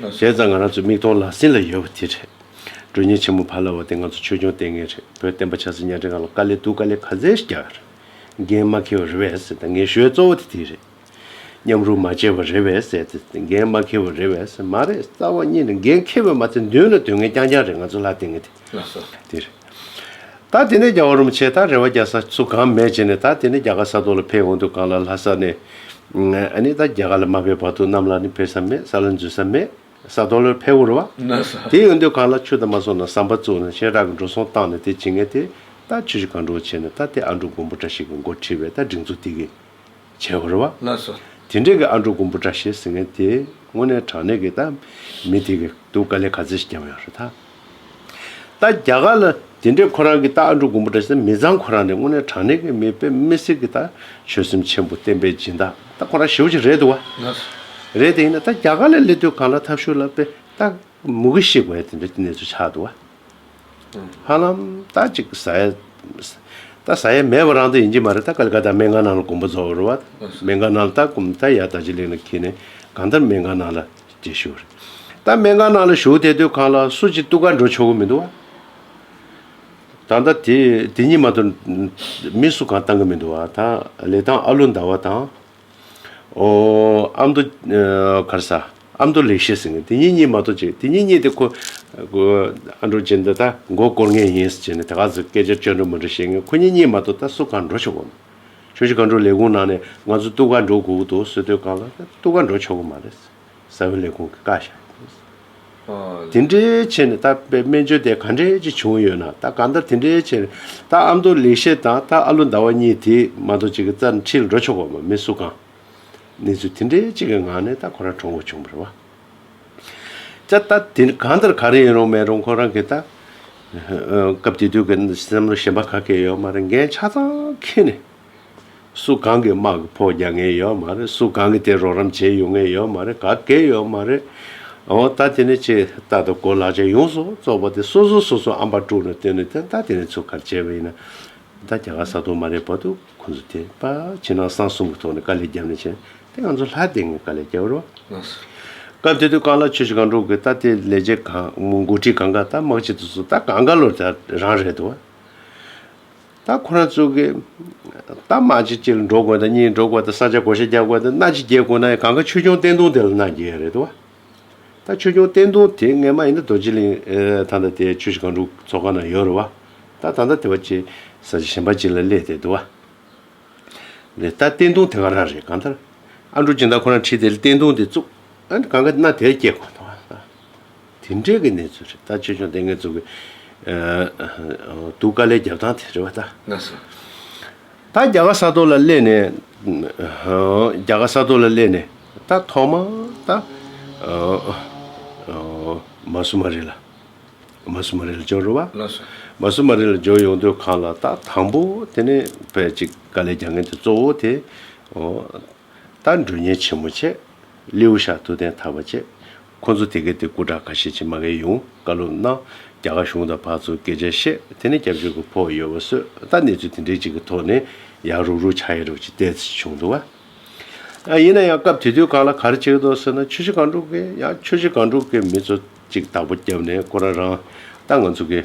Speaker 2: དེ་ཙམ་ང་རང་ཚོའི་མིག་མཐོང་ལག་ཟིན་ལ་ཡོད་པ་དེ་རེད། དྲུ་གཉེར་ཆེན་མོ་ཕ་ལ་བ་དེ་ང་ཚོ་ཆོས་སྐྱོང་ལྟས་ངན་རེད་བོད་བསྟན་པ་ཆགས་སྲིད་ཉག་ཕྲན་ག་ལ་དཀའ་ལས་སྡུག་དཀའ་ལས་ག་ཚད་རྒྱག་རེད། འགན་མ་འཁེལ་བ་རེད་བས་སད་ད་ངེས་ཤོའི་གཙོ་བོ་དེ་དེ་རེད། མཉམ་རུབ་མ་བྱས་བ་རེད་བས་སད་དེ་དེ་འགན་མ་འཁེལ་བ་རེད་བས་སད་མ་རེད་རྩ་བ་གཉིས་རེད་འགན་འཁེལ་བས་མ་ཚད་མདུན་ལ་དོན་ངན་རྐྱང་རྐྱང་རེད་ང་ཚོ་ལ་ལྟས་ངན་དེ། ལགས་སོ། འདིར། ད་དེ་ནས་རྒྱ་བ་རུམ་བྱེད་དང་རེ་བ་རྒྱ་ས་སུ་གང་མེད་བྱེད་ནས་ད་དེ་ནས་རྒྱ་གར་ས་ཐོག་ལ་ཕེབས་འོང་དུས་གང་ལ་ལྷ་ས་ནས། ནི་ད་རྒྱ་གར་ལ་མ་ཕེབས་བར་དུ་གནམ་ལ་ནི་ཕེབས་ས་མེད་ས་ལ་འཛུལ་ས་མེད་ས་ཐོག་ལོར་ཕེབས་འོང་རུ་བ། ལགས་སོ། དེ་ཡོང་དུས་གང་ལ་ཆུ་དང་མ་སོང་ན་ཟམ་པ་བཙུགས་ནས་ཤེས་རག་གི་འགྲོ་སོང་བཏང་ནས་དེ་བྱེད་ངེས་ཏེ་ད་ཆུ་ཞིག་གང་འགྲོ་བ་བྱེད་ནས་ད་དེ་ཨ་འབྲུག་མགོན་པོ་བཀྲ་ཤིས་ཀྱི་མགོར་ཁྲིད་པས་ད་སྒྲིག་འཛུགས་དེ་གི་བྱས་བར་བ། དེ་འདྲས་ཀྱི་ཨ་འབྲུག་དགུན་འབུ་ཏྲ་ཞེས་ཟེར་མཁན་དེ་དངོས་གནས་དྲང་གནས་ཀྱི་ད་མི་དེ་གི་འདུག་དཀའ་ལས་ག་ཚོད་ཞིག་རྒྱབ་ཡོང་རེད་ད། ད་རྒྱ་གར་ལ་དེ་འདྲས་ཁོ་རང་གི་ད་ཨ་འབྲུག་དགུན་འབུ་ཏྲ་ཞེས་ད་མི་ཚང་ཁོ་རང་ནི་དངོས་གནས་དྲང་གནས་ཀྱི་མི་དཔེ་མི་སྲིད་ཀྱི་ད་ཆོད་སེམས་ཆེན་པོ་བསྟན་པའི་སྦྱིན་བདག་ད་ཁོ་རང་ཞེ་བོ་ཅིག་རེད་འདུག་བ། རེད་དེ་ཡིན་ན་ད་རྒྱ་གར་ལ་སླེབས་དུས་གང་ལ་ཐབས་ཤོར་ལ་དཔེ་ད་མུ་གེ་ཞིག་བས་དེ་འདྲས་ཀྱི་གནས་ཚུལ་ཆགས་འདུག་བ། ཧ་ལམ་ད་ཅིག་ཟ་ཡ། ད་ཟ་ཡ་མེད་པ་རང་དུ་ཡིན་གྱི་མ་རེད་ད་ག་ལ་ག་ད་སྨན་གང་ནང་ལ་གོམ་པ་རྫོགས་པ་རུ་བ། སྨན་གང་ནང་ལ་ད་གོམ་ད་ཡར་ད་ཅིག་ལེགས་ན་ཁྱེད་ནས་གང་ལྟར་སྨན་གང་ནང་ལ་རྗེས་ཞུགས་རེད། ད་སྨན་གང་ནང་ལ་ཞུགས་དེ་དུས་གང་ལ་སུ་ཅིག་གཏུག་ག་འགྲོ་ཆོག་གི་མི་འདུག་བ། ད་ལྟ་དེ་དེ་གཉིས་མ་གཏོགས་མི་སུ་གང་བཏང་གི་མི་འདུག་བ་ད་ལས་སྟངས་ཨ་ལོ་འདའ་བ་དང། ཨོ། ཨ་མདོ། གར་ས། ཨ་མདོ་ལེགས་བཤད་ཟེར་ནས་དེ་གཉིས་གཉིས་མ་གཏོགས་བྱས། དེ་གཉིས་གཉིས་དེ་ཁོ། ཨ་འགྲོ་ཅན་འདི་ད་མགོ་བསྐོར་ངེས་ཡིན་ཟེར་ནས་དེ་ག་ཟིག་སྐད་ཆ་བཅོས་འགྲོ་མི་འདྲ་བཤད་ངེས་ཁོ་གཉིས་གཉིས་མ་གཏོགས་ད་སུ་གང་འགྲོ་ཆོག་གོ་མེད། ཁྱོད་ཀྱིས་ག་འགྲོ་ལས་ཁུངས་ནང་ནས་ང་ཚོ་སྟུ་ག་འགྲོ་དགོས་ཀྱི་འདུག་ཟེར་དུས་གང་ལ་ད་སྟུ་ག་འགྲོ་ཆོག་གི་མ་རེད། ས་བོན་ལས་ཁུངས་ཀྱི་བཀའ་ཤག་ཡིན་དགོས། དེ་འདྲའི་ཆེད་ནས་ད་དཔེ་སྨན་བཅོས་དེ་ག་འདྲས་ཅིག་བྱུང་ཡོད་ན་ད་གང་ལྟར་དེ་འདྲའི་ཆེད་ནས་ད་ཨ་མདོ་ལེགས་བཤད་དང་ད་ཨ་ལོ་ཟླ་བ་གཉིས་དེ་མ་གཏོགས་ཅིག་རྩར་འཁྲིད་འགྲོ་ཆོག་པ་མ་མི་སུ་གང། གནས་ཚུལ་དེ་འདྲའི་ཅིག་གི་ངང་ནས་ད་ཁོ་རང་གྲོངས་འགོ་བྱུང་བར་བ། ཅ་ད་དེ་གང་ལྟར་ག་རེ་ཡིན་རུང་མེད་རུང་ཁོ་རང་གིས་ད། སྐབས་དེ་དུས་ཀྱི་བསམ་བློ་ཞན་པ་ག་གེ་ཡོད་མ་རེད་འགན་ཆ་ཚང་འཁྱེར་ནས། སུ་གང་གིས་དམག་གི་ཕོག་རྒྱག་ངེས་ཡོད་མ་རེད་སུ་གང་གིས་དེ་རོགས་རམ་བྱེད་ཡོང་ངེས་ཡོད་མ་རེད་ག་གེ་ཡོད་མ་རེད་འོ་ད་དེ་ནས་ཆེ་ད་ད་གོ་ལག་ཆ་ཡོངས་སུ་རྫོགས་པ་དེ་སོ་སོ་སོ་སོ་ཨམ་པ་དཀྲུག་ནས་བཏོན་ནས་དེ་ད་དེ་ནས་ཚུར་གར་བྱས་པ་ཡིན་ན། ད་རྒྱ་གར་ས་དོག་མ་རེད་བ་དུ་ཁོང་ཚོ་དེ་པ་ཕྱི་ནང་གསང་གསུམ་གི་ཐོག་ནས་དཀའ་ལས་རྒྱབ་ནས་བྱས་དེ་ང་ཚོ་ལྷ་དེ་ངས་དཀའ་ལས་རྒྱབ་རོགས་སྐབས་དེ་དུས་རྐང་ལག་ཆོས་ཤིག་གང་དཀྲུག་གི་ད་དེ་ལས་བྱེད་གང་མགོ་ཁྲིད་གང་ག་ད་དམག་སྤྱི་དུ་སུ་ད་གང་ག་ལོར་ད་རང་རེད་དོ། ད་ཁོ་རང་ཚོ་གི་ད་མ་ཅིག་ཅིག་འགྲོ་དགོས་དང་གཉིས་འགྲོ་དགོས་དང་ས་ཆ་གོ་ཤ་རྒྱག་དགོས་དང་སྣ་ཅིག་རྒྱས་དགོས་ན་ཡང་གང་ག་ཆོས་སྐྱོང་བསྟན་དུང་དེ་ལ་གནང་རྒྱ་ཡ་རེད་དོ། ད་ཆོས་སྐྱོང་བསྟན་དུང་དེ་ངས་མ་ཡིན་ན་རྡོ་རྗེ་གླིང་ད་ད་དེ་ཆོས་ཞིག་གང་དྲུག་ཚོགས་ཁང་ན་ཡོད་རེད་བ། ད་ད་ད་དེ་བ་ཅིག་ས་ཆ་གཞན་པ་ཅིག་ལ་གླས་དེ་དོ་བ། རེད་ད་བསྟན་དུང་དེ་ག་རང་རེད་གང་ལྟར་ཨ་འགྲོ་ཅིག་ད་ཁོ་རང་ཁྲིད་དེ་བསྟན་དུང་དེ་བཙུགས་ཨ་གང་ག་སྣ་དེ་རྒྱས་དགོས་དོ་བ། དེ་འབྲེལ་གྱི་གནས་ཚུལ་རེ་ད་ཆོས་འབྱུང་ལྟས་ངན་ཚུགས་ཀྱི་འདུག་དཀའ་ལས་རྒྱབ་ཐང་དེ་རེད་བ་ད། ན་སོ།
Speaker 1: ད་
Speaker 2: རྒྱ་གར་ས་ཐོག་ལ་སླེབས་ནས། རྒྱ་གར་ས་ཐོག་ལ་སླེབས་ནས་ད་ཐོག་མ་ད། མ་སུ་མ་རི་ལ། མ་སུ་མ་རི་ལ་འབྱོར་རོ་བ། ལ་སོ། མ་སུ་མ་
Speaker 1: རི་ལ་འབྱོར་
Speaker 2: ཡོང་དུས་གང་ལ་ད་དང་པོ་དེ་ནས་བས་ཅིག་དཀའ་ལས་རྒྱ་ངན་དེ་གཙོ་བོ་དེ། ད་འགྲོས་ཉེན་ཆེན་མོ་བྱས། ལེའུ་ཤ་དུ་ཐན་ཐར་བ་བྱས། ཁོ་ཚོ་དེ་གའི་དེ་སྐུ་དྲག་ཁ་ཤས་ཆེ་མ་གས་ཡུང་བཀའ་ལུང་གནང། རྒྱ་གར་གཞུང་དང་བག་ཚོ་སྐད་ཆ་བཤད་དེ་ནས་སྐྱབས་བཅོལ་གི་ཕོག་ཡོད་བ་སོད་ད་གནས་ཚུལ་དེ་འདྲའི་ཅིག་གི་ཐོག་ནས་ཡག་རུག་རུག་ཆག་ཡ་རུག་ཅིག་བལྟས་ཚེ་བྱུང་འདུག་བ། ཡིན་ན་ཡང་སྐབས་དེ་དུས་གང་ལ་གར་བྱེད་དོ་སོད་ན་ཆུ་བཞི་གང་དྲུག་གི་ཡང་ཆུ་བཞི་གང་དྲུག་གི་མི་ཚོ་ཅིག་བདག་པོ་བརྒྱབ་ནས་ཁོ་རང་རང་ད་ང་ཚོ་གི།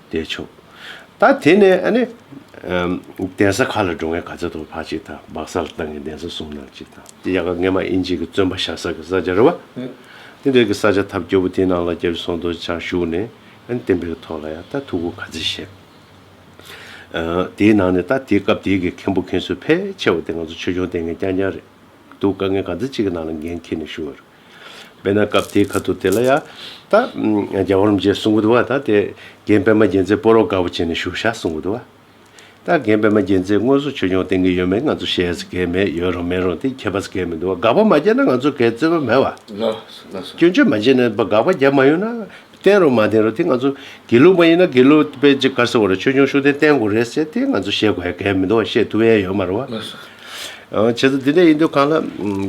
Speaker 2: བདེ་ཆུབ། ད་དེ་ནས་ཨ་ནི། གདན་ས་ཁག་ལ་འགྲོ་མཁན་ག་ཚད་དུ་བག་ཅིག་དང་སྦག་ས་ལ་བཏང་གིན་གདན་ས་གསུམ་ནང་གཅིག་དང། དེ་ཡག་ག་ངེས་མ་ཨིན་ཅིག་གི་བཙོན་པ་བཞག་ས་གི་ས་ཆ་རེད་བ། དེ་འདྲ་གི་ས་ཆ་ཐབས་སྐྱོ་བོ་དེ་ནང་ལ་རྒྱ་རི་སོང་དོ་ཅག་ཞུགས་ནས་ཨ་ནི་བསྟན་པའི་གི་ཐོག་ལ་ཡང་ད་ཐུགས་ཁུར་ག་ཚད་བཞེས། དེའི་ནང་ནས་ད་དེ་སྐབས་དེའི་གི་མཁན་པོ་མཁན་ཟུར་ཕལ་ཆེ་བ་དེ་ང་ཚོ་ཆོས་སྐྱོང་བསྟེན་མཁན་རྐྱང་རྐྱང་རེད་འདུག་ག་ངས་ག་ཚད་ཅིག་གི་ནང་ལ་འགན་འཁྱེར་ནས་ཞུགས་ཡོད་རེད། དཔེར་ན་སྐབས་དེའི་ཁ་ཐུག་དེ་ལ་ཡང། ད། རྒྱ་བོར་མི་བྱེད་གསུང་གི་འདུག་བ་ད་དེ། རྒན་པད་མ་རྒྱལ་མཚན་སྤོ་རོག་དགའ་བོ་བྱས་ནས་བཞུགས་བཞག་གསུང་གི་འདུག་བ། ད་རྒན་པད་མ་རྒྱལ་མཚན་དངོས་སུ་ཆོས་སྐྱོང་བསྟེན་གི་ཡོད་མེད་ང་ཚོ་ཤེས་ས་གལ་མེད་ཡོད་རུང་མེད་རུང་དེ་ཁྱད་པར་གལ་མི་འདུག་བ་དགག་པ་མ་བྱས་ན་ང་ཚོ་གལ་བརྩེ་བ་མེད་བ། སྐྱོན་
Speaker 1: བརྗོད་མ་བྱས་ནས་
Speaker 2: དགག་པ་རྒྱབ་མ་ཡོང་ན། བསྟན་རུང་མ་བསྟན་རུང་དེ་ང་ཚོ་དགེ་ལུགས་མ་ཡིན་ན་དགེ་ལུགས་དཔེ་ལྗིད་དཀར་ཟེར་བ་རེ་ཆོས་འབྱུང་ཤུགས་ལྡན་བསྟན་དགོས་རེད་ཟེར་དེ་ང་ཚོ་ཤེས་དགོས་ཡ་གལ་མི་འདུག་ཤེས་ཐུབ་ཡ་ཡོད་མ་རེད་བ།
Speaker 1: བྱས་
Speaker 2: ཙང་འདི་འདྲ་ཡིན་དུས་གང་ལ།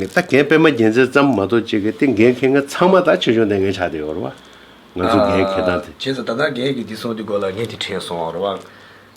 Speaker 2: ད་རྒན་པད་མ་རྒྱལ་མཚན་ཙམ་མ་གཏོགས་ཅི་དགོས་དེ་འགན་འཁེལ་མཁན་ཚང་མ་ད་ཆོས་འབྱུང་ལྟས་ངན་ཆགས་བསྡད་ཡོད་རེད་བ། ང་ཚོ་འགན་འཁེལ་སྟངས་དེ། བྱས་ཙང་ད་ལྟ་རྒན་གྱིས་
Speaker 1: འདི་གསུངས་དུས་གོ་ལ་ངན་གྱིས་ཁྲེལ་སོང་བ་རེད་བ།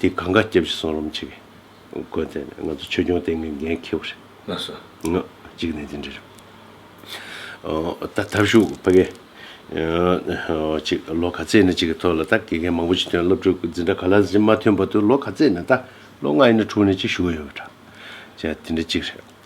Speaker 2: དེ་གང་ག་སྐྱབས་ཤིག་སོང་རོམ་ཆིག། དགོན་དེ་ནས་ང་ཚོ་ཆོས་སྐྱོང་སྟེང་གི་འགན་འཁྱེར་བ་རེད། ལགས་སོ།
Speaker 1: གཅིག་ནས་
Speaker 2: དེ་འདྲ་རེད། ད་ཐབས་ཤུགས་ཕ་གི། ཅིག་ལོ་ག་ཚད་ནས་ཅིག་གི་ཐོག་ལ་ད་དགེ་རྒན་མང་པོ་ཅིག་ཐོན་སློབ་ཕྲུག་གི་འཛིན་གྲྭ་ག་ལ་ཟིན་མ་ཐོན་བར་དུ་ལོ་ག་ཚད་ནས་ད་ལོ་ལྔ་ཡིན་ན་དྲུག་ནས་ཅིག་ཞུགས་ཡོད་པ་འདྲ། ཅེས་དེ་འདྲ་ཅིག་རེད།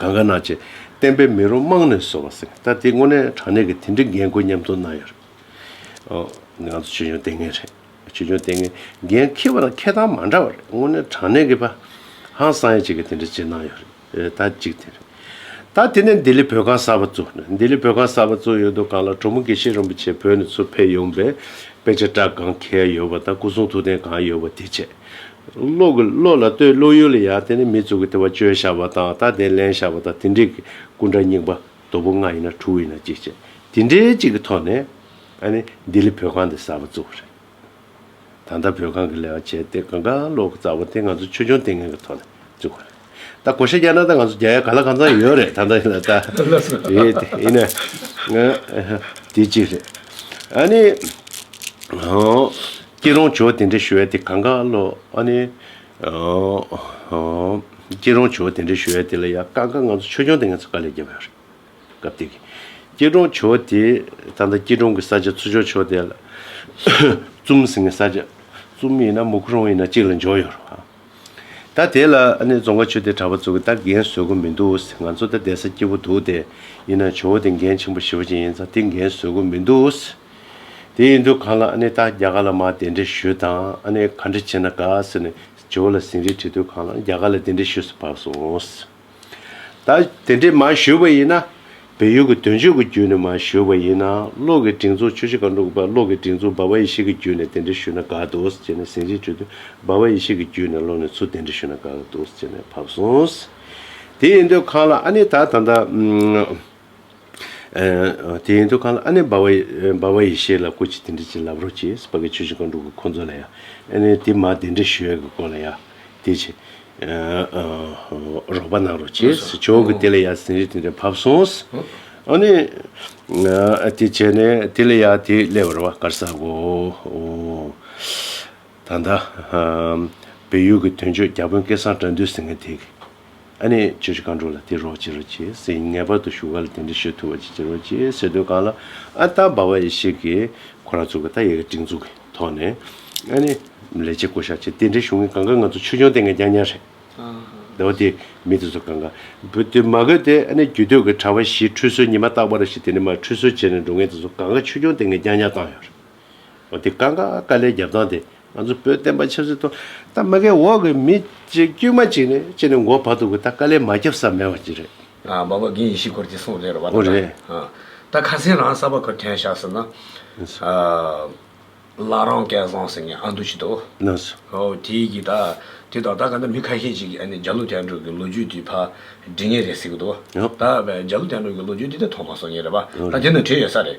Speaker 2: གང་ག་ན་ཆེ་བསྟན་པའི་མི་རོ་རྨང་ནས་བཟོ་བ་སྲིང་བསྟར་དེ་དངོས་གནས་དྲང་གནས་ཀྱི་དེ་འདྲའི་འགན་ཁུར་མཉམ་དུ་གནང་ཡོད་རེད། ང་ཚོ་ཆོས་འབྱུང་ལྟས་ངན་རེད། ཆོས་འབྱུང་ལྟས་ངན་འགན་འཁྱེར་བ་དང་འཁྱེར་སྟངས་མ་འདྲ་བ་རེད་དངོས་གནས་དྲང་གནས་ཀྱི་ཧང་སང་ཡ་བྱེད་ཀྱི་དེ་འདྲའི་བྱེད་གནང་ཡོད་རེད་ད་གཅིག་དེ་རེད། ད་དེ་ནས་ལྡི་ལི་བོད་ཁང་གསར་བ་བཙུགས་ནས་ལྡི་ལི་བོད་ཁང་གསར་བ་བཙུགས་ཡོད་འདུག་གང་ལ་གྲོ་མོ་དགེ་བཤེས་རིན་པོ་ཆེ་བོད་ནས་ཚུར་ཕེབས་ཡོང་པའི་དཔེ་ཆ་སྐྲ་གང་འཁེལ་ཡོད་པ་དང་སྐུ་གསུང་ཐུགས་རྟེན་གང་ཡོད་པ་དེ་བཅས་བློ་ལ་ལྟོས་བློ་ཡུལ་ལ་ཡང་དེ་ནི་མི་གཙུག་གི་ལྟེ་བ་བཅོས་བཞག་པ་དང་ལྟ་བདེན་ལེན་བཞག་པ་དང་དེ་འདྲིས་ཀྱི་སྐུ་འདྲ་སྙིང་པ་དོ་པོ་ལྔ་ཡིན་ན་དྲུག་ཡིན་ན་གཅིག་བྱས་དེ་འདྲའི་གཅིག་གི་ཐོག་ནས་ཨ་ནི་ལྡི་ལི་བོད་ཁང་འདི་གསར་པ་བཙུགས་པ་རེད། ད་ལྟ་བོད་ཁང་གི་ལས་ཀ་བྱས་ཏེ་གང་ག་ལོག་གི་རྩ་བ་དེ་ང་ཚོ་ཆོས་འབྱུང་ལྟས་ངན་གྱི་ཐོག་ནས་བཙུགས་པ་རེད། ད་གོ་ཤེས་རྒྱ་ནང་ད་ང་ཚོ་རྒྱ་ཡ་ག་ལ་གང་ཚང་ཡོད་རེད་ད་ནང་ད་ཡེ་དེ་ཡེ་ནས་ང་དེ་གཅིག་རེད། ཨ་ནི། སྐྱིད་རོང་ཇོ་དེ་འདྲ་ཞུ་ཡ་དེ་གང་ག་ལོ་ཨ་ནི། སྐྱིད་རོང་ཇོ་དེ་འདྲ་ཞུ་ཡ་དེ་ལ་ཡ་གང་ག་ང་ཚོ་ཆོས་སྐྱོང་དེ་ངས་ཚོ་ག་ལས་རྒྱབ་ཡོད་རེད། སྐབས་དེ་གི་སྐྱིད་རོང་ཇོ་དེ་ད་ནང་སྐྱིད་རོང་གི་ས་ཆ་ཚུ་ཇོ་ཆོས་དེ་ལ། ཙུམ་ཟེར་ངའི་ས་ཆ་ཙུམ་ཡིན་ན་མུ་གུ་རོང་ཡིན་ན་གཅིག་ལ་འཇོག་ཡོད་རེད་བ། ད་དེ་ལ་ཨ་ནེ་རྫོང་ཁ་ཆུ་དེ་གྲྭ་པ་ཚོ་གི་ད་རྒན་བཟོད་སྒོ་མི་འདུག་ཟེར་ང་ཚོ་ད་བསྡད་ས་སྐྱིད་པོ་འདུག་སྟེ་ཡིན་ནའང་ཇོ་བོ་དེ་རྒན་ཆེན་པོ་ཞི་བ་ཅན་ཡིན་ཙང་དེ་རྒན་བཟོད་སྒོ་མི་འདུག་ཟེར། དེ་ཡིན་དུས་གང་ལ་ཨ་ནེ་ད་རྒྱ་གར་ལ་མ་དེ་འདྲས་བཞུད་དང་ཨ་ནེ་ག་འདྲས་བྱེད་ན་དགའ་ཟེར་ནས་ཇོ་བོ་ལ་ཟིན་རིས་དྲིས་དུས་གང་ལ་རྒྱ་གར་ལ་དེ་འདྲས་བཞུད་སུ་བབས་སོང། ད་དེ་འདྲས་མ་ཞུས་པ་ཡིན་ན། བལ་ཡུལ་གྱི་དོན་གཅོད་ཀྱི་རྒྱུད་ནས་མ་ཞུས་པ་ཡིན་ན། གློག་གི་སྒྲིག་འཛུགས་ཆུ་བྱི་ག་འབྲུག་པ་གློག་གི་སྒྲིག་འཛུགས་འབའ་བ་ཡེ་ཤེས་ཀྱི་རྒྱུད་ནས་དེ་འདྲས་ཞུས་ན་དགའ་འདུག་ཅེས་ནས་ཟིན་རྗེས་དྲིས་དུས་འབའ་བ་ཡེ་ཤེས་ཀྱི་རྒྱུད་ནས་ལོག་ནས་ཚུར་དེ་འདྲས་ཞུས་ན་དགའ་འདུག་ཅེས་ནས་ཕབ་སོང། དེ་ཡིན་དུས་ཁང་ལ་ཨ་ནི་ད་ད་ད། དེ་ཡིན་དུ་གང་ལ་ཨ་ནེ་བྷ་བྷ་ཡེ་ཤེས་ལ་སྐུ་ཅི་དེ་འདྲ་ཅིག་ལབ་རོགས་ཅེས་སྤ་གི་ཆོས་ཅི་གང་འགྲུབ་གི་ཁོང་ཚོ་ལ་ཡ་ཨེ་ནེ་དེ་མ་དེ་འདྲ་ཞུ་ཡ་གི་སྐོར་ལ་ཡ་དེ་ཆེ་རོགས་པ་གནང་རོགས་ཅེས་ཆོག་གི་དེ་ལ་ཡ་ཟིན་རིས་དེ་འདྲ་བབས་སོང། ཨ་ནེ་དེ་བྱས་ནས་དེ་ལ་ཡ་དེ་སླེ་བར་བ་དཀར་ཟ་གོ། ད་ལྟ་བལ་ཡུལ་གི་དོན་གཅོད་རྒྱ་དཔོན་སྐལ་བཟང་བཀྲ་འདུལ་ཟེར་མཁན་དེ། ཨ་ནི་ཁྱོད་ཀྱི་གང་འགྲོ་ལ་དེ་རོགས་བྱེད་རོགས་བྱེད་ཟེར་ཡིན་ངེས་པར་དུ་བཞུགས་སྒར་ལ་དེ་འདྲ་ཤོད་ཐུབ་པ་ཅིག་བྱེད་རོགས་བྱེད་ཟེར་དུས་གང་ལ་ཨ་རྟ་འབའ་བ་ཡི་ཞིག་གིས་ཁོ་རང་ཚུར་ག་ད་ཡའི་ག་དྲིང་ཚུགས་ཀྱི་ཐོག་ནས་ཨ་ནི་ལས་བྱེད་བསྐོ་བཞག་བྱེད་དེ་འདྲའི་གཞུང་གི་ག་འགའ་ང་ཚོ་ཆོས་འབྱུང་སྟེང་གི་རྐྱང་རྐྱང་རེད། ཟླ་བ་དེའི་མི་དེ་ཚོ་ག་འགའ་བོད་དུ་མ་བཀོད་དེ་ཨ་ནི་རྒྱུད་སྟོད་ཀྱི་གྲྭ་བ་བཞིས་ཁྲུས་གསོལ་ཉི་མ་རྟག་པ་རེ་ཞིག་དེ་ནས་མར་ཁྲུས་གསོལ་བྱས་ནས་འགྲོ་མཁན་དེ་ཚོ་ག་འགའ་ཆོས་འབྱུང་སྟེང་གི་རྐྱང་རྐྱང་བཏང་ཡོད་རེད། འོ་དེ་ཀ་འགའ་དཀའ་ལས་རྒྱབ་སྟངས་དེ་ང་ཚོ་བོད་བསྟན་པ་ཆབ་སྲིད་ཐོག་ད་མི་གའི་འོག་གི་མི་གཅིག་དཀྱུས་མ་གཅིག་ནས་ཅི་ནས་འགོ་བ་འདུག་གི་ད་དཀའ་ལས་མ་རྒྱབ་ས་མེད་པ་ཅི་རེད། འབའ་པ་དགེ་ཡེ་
Speaker 1: ཤེས་སྐོར་གྱི་གསུངས་ལེ་རོ་བ་ད་ད་
Speaker 2: ད་ཁ་
Speaker 1: སེང་རང་གསར་པ་ཁོ་ཐན་ཤག་སེ་ན་བླ་རང་སྐལ་བཟང་སེང་གེ་ཨ་འདུ་བྱེད་དོ་
Speaker 2: དེ་གི་ད་
Speaker 1: དེ་ད་ད་ག་ད་མི་ཁ་ཤས་ཅིག་གི་རྒྱ་ལོ་དན་གྲོ་གི་ལོ་རྒྱུས་དེ་ཕ་འདྲི་ངེས་རེད་ཟེར་གི་འདུག་ད་རྒྱ་ལོ་དན་གྲོ་གི་ལོ་རྒྱུས་དེ་ད་མཐོང་མ་སོང་ངེས་རེད་བ་ད་དེ་ན་བྲེལ་ཡོད་ས་རེད།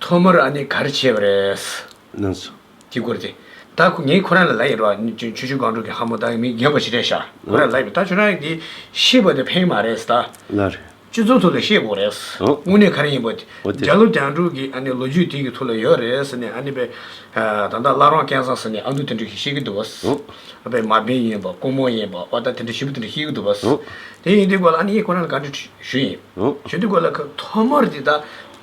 Speaker 1: ཐོག་མར་ཨ་ནི་གར་བྱས་པ་རེད། ནང་སོ།
Speaker 2: གྱིས་བསྐོར་ཏེ།
Speaker 1: ད་ཁོ་ངས་ཁོ་རང་ལ་ལ་ཡིན་རོགས། ནི་ཆུ་ཆུ་སྒང་དྲུག་གི་ཧ་མོ་ད་མི་རྒན་པོ་ཞིག་རེད་ཤག་ཁོ་རང་ལ་ལ་ཡིན་པ་ད་ཁྱོད་རང་གི་ཤེས་པ་དེ་ཕན་མ་རེད་ད། ལ་རེད། སྤྱི་
Speaker 2: ཚོགས་ཐོག་ལ་ཤེས་དགོས་
Speaker 1: རེད། དངོས་གནས་གར་ཡིན་པ། བརྒྱ་ལོ་གྱང་དྲུག་གི་ཨ་ནི་ལོ་རྒྱུས་དེ་གི་ཐུགས་ལ་ཡོད་རེད་ནི་ཨ་ནི་པའི། ད་ད་བླ་རོང་སྐལ་བཟང་ཟེར་ནི་ཨ་མདོ་དེ་འདྲ་ཞིག་ཤེས་ཀྱི་འདུག་བ། ཨ་པའི་མ་པིན་ཡིན་པ་ཀོང་མོ་ཡིན་པ་བ་ད་དེ་འདྲ་ཞིབ་པོ་དེ་འདྲ་ཤེས་ཀྱི་འདུག་བ། དེ་ཡིན་དེ་སྐོར་ལ་ཨ་ནི་ཡིས་ཁོ་རང་ལ་ག་འདྲི་ཞུ་ཡིན། ཞུ་དེ་སྐོར་ལ་ཁ་ཐོག་མར་དེ་ད།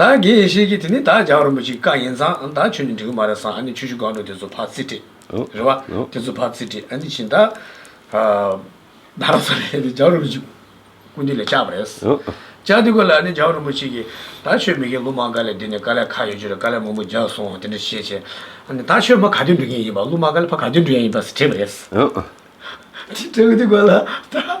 Speaker 1: ད་གེ་ཡེ་ཤེས་ཀྱིས་དེ་ནི་ད་ཇག་རིན་པོ་ཆེའི་བཀའ་ཡིན་ཙང་ཨ་ད་ཁྱོད་ནི་འགྲིག་གི་མ་རེད་བསམ་ཨ་ནི་ཆུ་ཆུ་སྒང་དྲུག་དེ་ཚོ་ཕར་རྩིས་སྤྲད། རེད་བ། དེ་ཚོ་ཕར་རྩིས་སྤྲད་ཨ་ནི་ཕྱིན་ད། ད་ར་ས་རེད་དེ་ཇག་རིན་པོ་ཆེ་ཀུན་འདུས་ལས་བཅག་པ་རེད། བཅག་དེ་ཀོ་ལ་ཨ་ནི་ཇག་རིན་པོ་ཆེ་ཀྱིས་ད་ཆོས་མི་དགེ་ལུགས་མང་ག་ལེར་བསྡད་ནས་ག་ལེར་ཁ་ཡོད་ཅོ་རེད་ག་ལེར་མུ་མུ་རྒྱག་སོང་དེ་འདྲ་བྱས་བྱས་ཨ་ནི་ད་ཆོས་མ་ག་དུས་འགྲོ་མཁན་ཡིན་པ་ལུགས་མང་ག་ལེར་ཕ་ག་དུས་འགྲོ་ཡ་ཡིན་པ་ཟེར་བྲིས་པ་རེད། དེ་ཀོ་ལ་ད།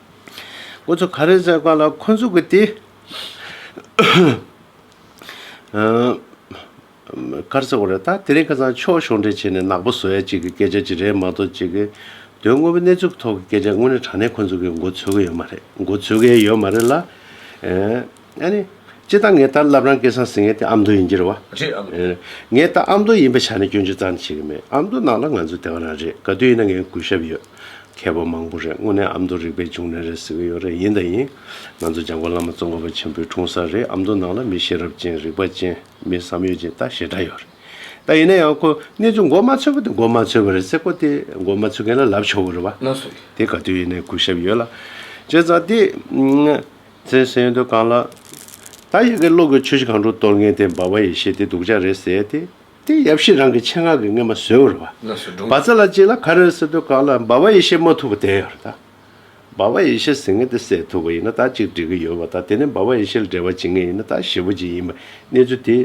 Speaker 2: ཁོ་ཚོ་ག་རེ་བཟོས་ག་ལ་ཁོ་ཚོ་གི་དེ། གར་ཟེར་བ་རེད་ད་དེ་རིང་ཁ་སང་ཕྱོགས་ཞོར་འདྲེན་བྱས་ནས་ནག་པོ་བཟོ་ཡ་གཅིག་གི་སྐད་ཆ་གཅིག་རེད་མ་གཏོགས་གཅིག་གི། དོན་དངོས་པོ་གནས་ཚུལ་གི་ཐོག་གི་སྐད་ཆ་དངོས་ནི་དྲང་གནས་ཁོ་ཚོ་གི་མགོ་འཚོས་ཀི་ཡོད་མ་རེད་མགོ་འཚོས་ཀི་ཡོད་མ་རེད་ལ། ཨ་ནི། ཅི་སྟག་ངས་ད་རླབས་རང་སྐལ་བཟང་ཟིན་ངེས་ཏེ་ཨ་མདོ་ཡིན་གྱིར་བ། རེད་ཨ་མདོ། ངས་ད་ཨ་མདོ་ཡིན་པའི་ཆ་ནས་སྐྱོན་ཅི་ཙང་ནི་བྱེད་ཀྱི་མེད་ཨ་མདོ་ནང་ལ་ང་ཚོའི་དེ་ག་རང་རེད་ག་དུས་ཡིན་ན་ངའི་གུས་ཞབས་ཡོད། མཁས་པ་མང་པོ་རེད་དངོས་གནས་ཨ་མདོ་རིག་པའི་འབྱུང་གནས་རེད་ཟེར་གྱི་ཡོད་རེད་ཡིན་དང་ཡིན། ང་ཚོ་འཇང་དགོན་བླ་མ་ཙོང་ཁ་པ་ཆེན་པོའི་འཁྲུངས་ས་རེད་ཨ་མདོ་ནང་ལ་མི་ཤེས་རབ་ཅན་རིག་པ་ཅན་མི་བསམ་ཡོད་ཅན་ལྟ་ཞེ་དྲག་ཡོད་རེད་ད་ཡིན་ན་ཡང་ཁོ་གནས་ཚུལ་མགོ་མ་འཚོས་པ་དེ་མགོ་མ་འཚོས་པ་རེད་ཟེར་ཁོ་དེ་མགོ་མ་འཚོས་མཁན་ལ་ལབ་ཆོག་གི་རེད་བ། ན་སུ་རེད། དེ་ག་དུས་ཡིན་
Speaker 1: ནའི་
Speaker 2: གུས་ཞབས་ཡོད་ལ། བྱས་ཙང་དེ། བཙན་ས་ཡོན་དུ་གང་ལགས། ད་ཡི་གེ་ཀློག་གི་ཆོས་ཤིག་གང་དྲུག་གཏོར་ངན་དེ་འབའ་བ་ཡི་ཞེས་དེ་སྡུག་ཅག་རེད་ཟེར་ཏེ། དེ་ཡབ་གཤིས་རང་གི་ཆེད་ངག་གི་རྔན་མ་བཟོས་བར་བ། བ་ཙ་ལ་ཅིག་ལ་ག་རེ་ཟེར་དུ་གང་ལགས་འབའ་བ་ཡི་ཞེས་སྨྲ་ཐུབ་པ་དེ་ཡོད་རེད་ད། འབའ་བ་ཡི་ཞེས་ཟེར་ངན་དེ་བསད་ཐུབ་པ་ཡིན་ན་ད་ཅིག་འགྲིག་གི་ཡོད་བ་ད་དེ་ནས་འབའ་བ་ཡི་ཞེས་ལ་འབྲེལ་བ་བྱེད་ངན་ཡིན་ན་ད་ཞེ་བོ་ཅིག་ཡིན་པ་གནས་ཚུལ་དེ།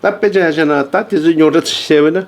Speaker 2: ད་དཔེ་ཆ་ཡང་ཤར་ན་ད་དེ་ཚོའི་རྙོག་དྲ་ཚ་ཤེས་བས་ན།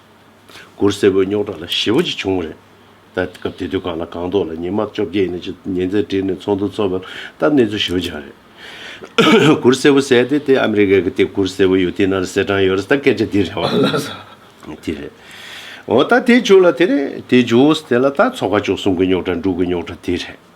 Speaker 2: གུར་སེར་པོའི་རྙོག་དྲ་ལ་ཞི་བ་ཅིག་བྱུང་བ་རེད། ད་སྐབས་དེ་དུས་གང་ལ་གང་འདོགས་ལ་ཉིན་མ་བཅོ་བརྒྱད་ནས་ཉིན་མཚན་དྲིལ་ནས་ཚོགས་འདུ་ཚོགས་པ་སྟབས་གནས་ཚུལ་ཞི་བ་ཅིག་རེད། གུར་སེར་པོ་ཟེར་ཏེ་དེ་ཨ་མི་རི་ཀ་གི་དེ་གུར་སེར་པོ་ཡོད་དེ་ནང་ལ་སེར་གྲངས་ཡོད་རེད་ད་སྐད་ཆ་འདི་རེད་བ། དེ་རེད། འོ་ད་དེ་བྱུང་ལ་དེ་རེད་དེ་བྱུང་དེ་ལ་ད་ཚོགས་པ་བཅུག་གསུམ་གི་རྙོག་དྲ་འབྲུག་གི་རྙོག་དྲ་དེ་རེད།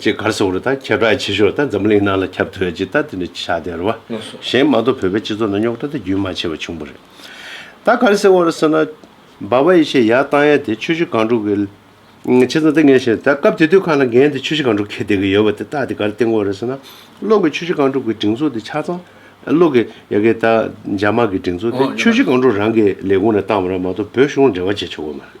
Speaker 2: ཅེས་སྒར་གསར་བ་རུ་དང་ཁྱད་བསྒྲགས་ཆེ་ཤོས་དང་འཛམ་གླིང་ནང་ལ་ཁྱབ་ཐོས་རྗེས་ད་ལྟ་ནི་ཆགས་བསྡད་རུ་བ་གཞན་མ་གཏོགས་བོད་པའི་སྤྱི་ཚོགས་ནང་རྙོག་དྲ་དེ་རྒྱུན་མ་ཆད་པར་བྱུང་བ་རེད། ད་སྒར་གསར་བ་རུ་སོང་ན་འབའ་བ་ཡེ་ཤེས་ཡར་བཏང་ཡ་དེ་ཆོས་གཞི་སྒང་དྲུག་གི། ཆེ་ཚང་ལྟ་ངན་ཞིག་རེད་ད་སྐབས་དེ་དུས་ཁ་ལ་འགན་དེ་ཆོས་གཞི་སྒང་དྲུག་གིས་བསྡད་ཀྱི་ཡོད་པ་དེ་རྟགས་དེ་སྒར་སྟེང་བ་རུ་སོང་ན་གློག་གི་ཆོས་གཞི་སྒང་དྲུག་གི་སྒྲིག་འཛུགས་དེ་ཆ་ཚང་གློག་གི་ཡ་གི་ད་འཇར་མ་གི་སྒྲིག་འཛུགས་དེ་ཆོས་གཞི་སྒང་དྲུག་རང་གི་ལས་ཁུངས་ནས་བཏང་བ་རང་མ་གཏོགས་བོད་གཞུང་ལ་འབྲེལ་བ་བྱེད་ཆོག་གི་མ་རེད།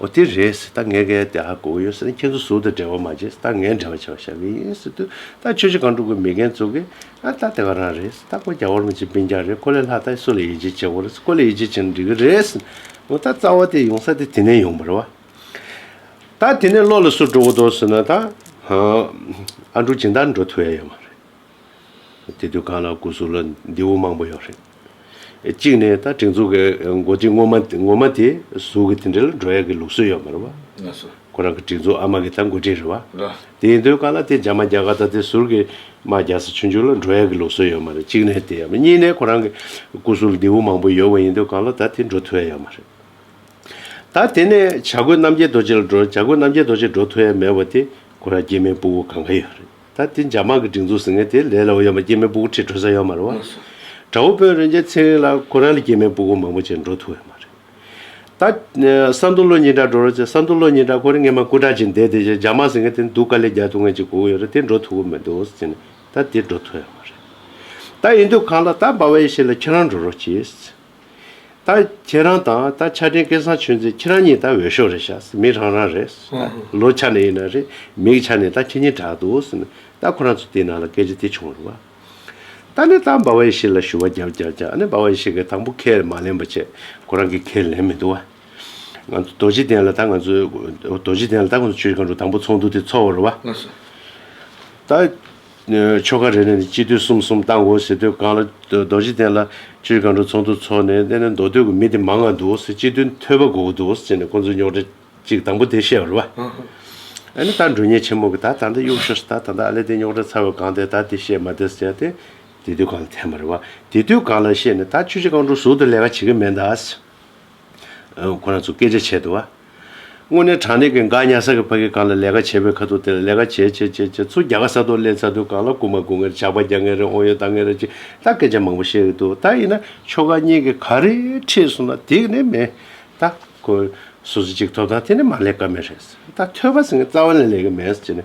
Speaker 2: ཨོ་དེ་རེད། ད་ངས་ཀའི་དེ་ཧ་གོ་གི་ཡོད་ཟེར་ན་ཁྱེད་ཚོ་གཟུགས་དང་འབྲེལ་བ་མ་བྱེད། ད་ངས་འབྲེལ་བ་བྱེད་པ་ཤ་བི་ཡིན་ཟེར་དུས་ད་ཁྱོད་ཅི་གང་སྒྲུབ་དགོས་མི་རྒན་བཙུག་གི། ཨ་ད་དེ་ག་རང་རེད། ད་ཁོ་རྒྱ་བོར་མི་བྱེད་བིན་རྒྱ་རེད་ཁོ་ལས་ལྷག་ད་སུ་ལ་ཡིད་ཆེས་བྱེད་གོ་རེད་ཁོ་ལས་ཡིད་ཆེས་བྱེད་ན་འགྲིག་གི་རེད་ཟེར། ཨོ་ད་རྩ་བ་དེ་ཡོང་ས་དེ་དེ་ནས་ཡོང་བར་བ། ད་དེ་ནས་བློ་ལ་སུ་འགྲོ་གི་འདུག་ཟེར་ན་ད། ཨ་འབྲུག་སྦྱིན་བདག་འགྲོ་ཐུ་ཡ་ཡོད་མ་རེད། དེ་དུས་གང་ལ་སྐུ་གཟུགས་ལ་མདེའུ་མང་པོ་ཡོད་རེད། གཅིག་ནས་ད་སྒྲིག་འཛུགས་ཀྱི་མགོ་ཁྲིད་ངོ་མ་དེ་གཟུགས་ཀྱི་དེ་འདྲ་ལ་འགྲོ་ཡག་གི་ལུགས་སྲོལ་ཡོད་མ་རེད་བ། ཁོ་རང་གི་
Speaker 1: སྒྲིག་འཛུགས་ཨ་
Speaker 2: མ་གི་ད་མགོ་ཁྲིད་རེད་བ། དེ་ཡིན་དུས་ཀ་
Speaker 1: ལ་དེ་འཇག་
Speaker 2: མ་རྒྱག་ག་ད་དེ་ཟུར་གྱི་མ་རྒྱག་ས་ཆུང་ཆུང་ལ་འགྲོ་ཡག་གི་ལུགས་སྲོལ་ཡོད་མ་རེད་གཅིག་ནས་དེ་ཡོད་མ་གཉིས་ནས་ཁོ་རང་གི་སྐུ་སྲུང་ལྡེའུ་བུ་མང་པོ་ཡོད་བ་ཡིན་དུས་ག་ལ་ད་དེ་འགྲོ་ཐུ་ཡ་ཡོད་མ་རེད། ད་དེ་ནས་བྱ་རྒོད་རྣམ་རྒྱལ་རྡོ་རྗེ་ལ་འགྲོ་བྱ་རྒོད་རྣམ་རྒྱལ་རྡོ་རྗེ་འགྲོ་ཐུ་ཡ་མེད་བ་དེ་ཁོ་རང་སྐྱེས་མའི་སྤུ་བོ་གང་ག་ཡོད་རེད། ད་དེ་འཇག་མ་གི་སྒྲིག་འཛུགས་ཟེར་མཁན་དེ་ལས་ལ་འོ་ཡོད་མ་སྐྱེས་མའི་སྤུ་གུ་ཁྲིད་འགྲོ་ས་ཡོད་མ་རེད་བ། དགྲ་བོ་དཔོན་རོན་རྒྱལ་ཚེ་རིང་ལ་ཁོ་རང་ལས་སྐྱེས་མའི་སྤུ་གུ་མང་པོ་བྱས་འགྲོ་ཐུབ་ཡོད་མ་རེད། ད་ས་མདོ་བློ་གཉིས་དགྲ་འགྲོ་རོ་ཅེས་ས་མདོ་བློ་གཉིས་དགྲ་ཁོ་རེ་ངེད་མ་སྐུ་དྲག་ཅིག་འདས་དེ་རྗེས་འཇག་མ་ཟེར་མཁན་དེ་འདུག་ག་ལས་རྒྱ་ཐུ་ངན་ཅིག་སྒུག་ཡོད་རེད་དེ་འགྲོ་ཐུབ་གི་མི་འདུག་ཟེར་ནས་ད་དེ་འགྲོ་ཐུབ་ཡོད་མ་རེད། ད་ཡིན་དུས་གང་ལ་ད་འབའ་བ་ཡེ་ཤེས་ལ་ཁྱེད་རང་འགྲོ་རོགས་ཅེས། ད་ཁྱེད་རང་དང་ད་ཆ་དྲིན་སྐལ་བཟང་ཆོས་འཛིན་ཁྱེད་རང་གཉིས་ད་འོས་ཤོག་རེད་བཞག་མི་རང་རང་རེད། ལོ་ཆ་ནས་ཡིན་ན་རེད་མིག་ཆ་ནས་ད་ཁྱེད་གཉིས་གྲགས་འདུག་ད་ཁོ་རང་ཚོ་དེའི་ནང་ལ་སྐད་ཆ་དེ་བྱུང་རུང་བ། ད་ནས་ད་འབའ་བ་ཡེ་ཤེས་ལ་ཞུ་བ་རྒྱབ་རྒྱབ་རྒྱག་ཨ་ནེ་འབའ་བ་ཡེ་ཤེས་གིས་དང་པོ་ཁས་མ་ལེན་པ་བྱས་ཁོ་རང་གིས་ཁས་ལེན་མི་འདུག་བ། ང་ཚོ་རྡོ་རྗེ་གདན་ལ་ད་ང་ཚོའི་རྡོ་རྗེ་གདན་ལ་ད་ཁོ་ཚོ་ཆོས་ཀྱི་སྒང་དྲུག་དང་པོ་ཚོགས་འདུག་དེ་འཚོགས་བར་བ། ད། ཆོ་ག་རེ་རེ་ནས་སྤྱི་བསྟོད་གསུམ་གསུམ་བཏང་གོ་ཟེར་དུས་གང་ལ་རྡོ་རྗེ་གདན་ལ་སྤྱིར་གང་འགྲོ་ཚོགས་འདུ་ཚོགས་ནས་གནས་ནས་མདོ་སྟོད་ཀྱི་མི་དེ་མང་ང་འདུག་ཟེར་སྤྱི་དོན་ཐོས་པ་གོ་གི་འདུག་ཟེར་ནས་ཁོང་ཚོའི་རྙོག་དྲ་གཅིག་དང་པོ་དེ་བཤད་པར་བ། ཨ་ནི་ད་འགྲོ་ཉེ་ཆེན་མོ་གི་ད་ད་འདི་གཡུག་ཤོར་ཟེར་ད་ད་ད་ཨ་ལས་དེ་རྙོག་དྲ་ཚར་བའི་གང་དེ་ད་དེ་བཤད་མ་དེ་ཟེར་དེ་དེ་དུས་གང་ལ་འཐེན་པར་བ། དེ་དུས་གང་ལ་བཤད་ནས་ད་ཆུ་བྱི་གང་འགྲོ་ཟུར་དུ་ལས་ཀ་བྱེད་ཀྱི་མེད་ཟླ། ཁོ་ན་ཚོ་སྐད་ཆ་བྱས་འདུག་བ། དངོས་གནས་དྲང་གནས་ཀྱི་འགག་ཉལ་ས་ཀྱི་ཕ་གིས་གང་ལ་ལས་ཀ་བྱེད་པའི་ཁ་ཐུག་དེ་ལ་ལས་ཀ་བྱེད་བྱེད་བྱེད་བྱེད་ཚུར་རྒྱ་གར་ས་ཐོག་སླེབས་ཚར་དུས་གང་ལ་སྐུ་མ་སྐུ་ངེར་ཇག་པ་རྒྱག་ངེས་རེད་འོང་ཡོད་ལྡང་ངེས་རེད་ཅེས་ད་སྐད་ཆ་མང་པོ་བཤད་ཀྱི་འདུག་ད་ཡིན་ན་ཁྱོ་ག་གཉིས་ཀྱི་ག་རེ་ཁྲིད་སོང་ན་དེ་ག་ནས་མེད། ད་ཁོས་སོ་སོ་གཅིག་ཐོབ་ཐང་དེ་ནས་མ་ལས་ཀ་མེད་རེད། ད་ཐོས་པ་ཟེར་ངེས་རྩ་བ་ནས་ལས་ཀ་མེད་ཅེས་ནས།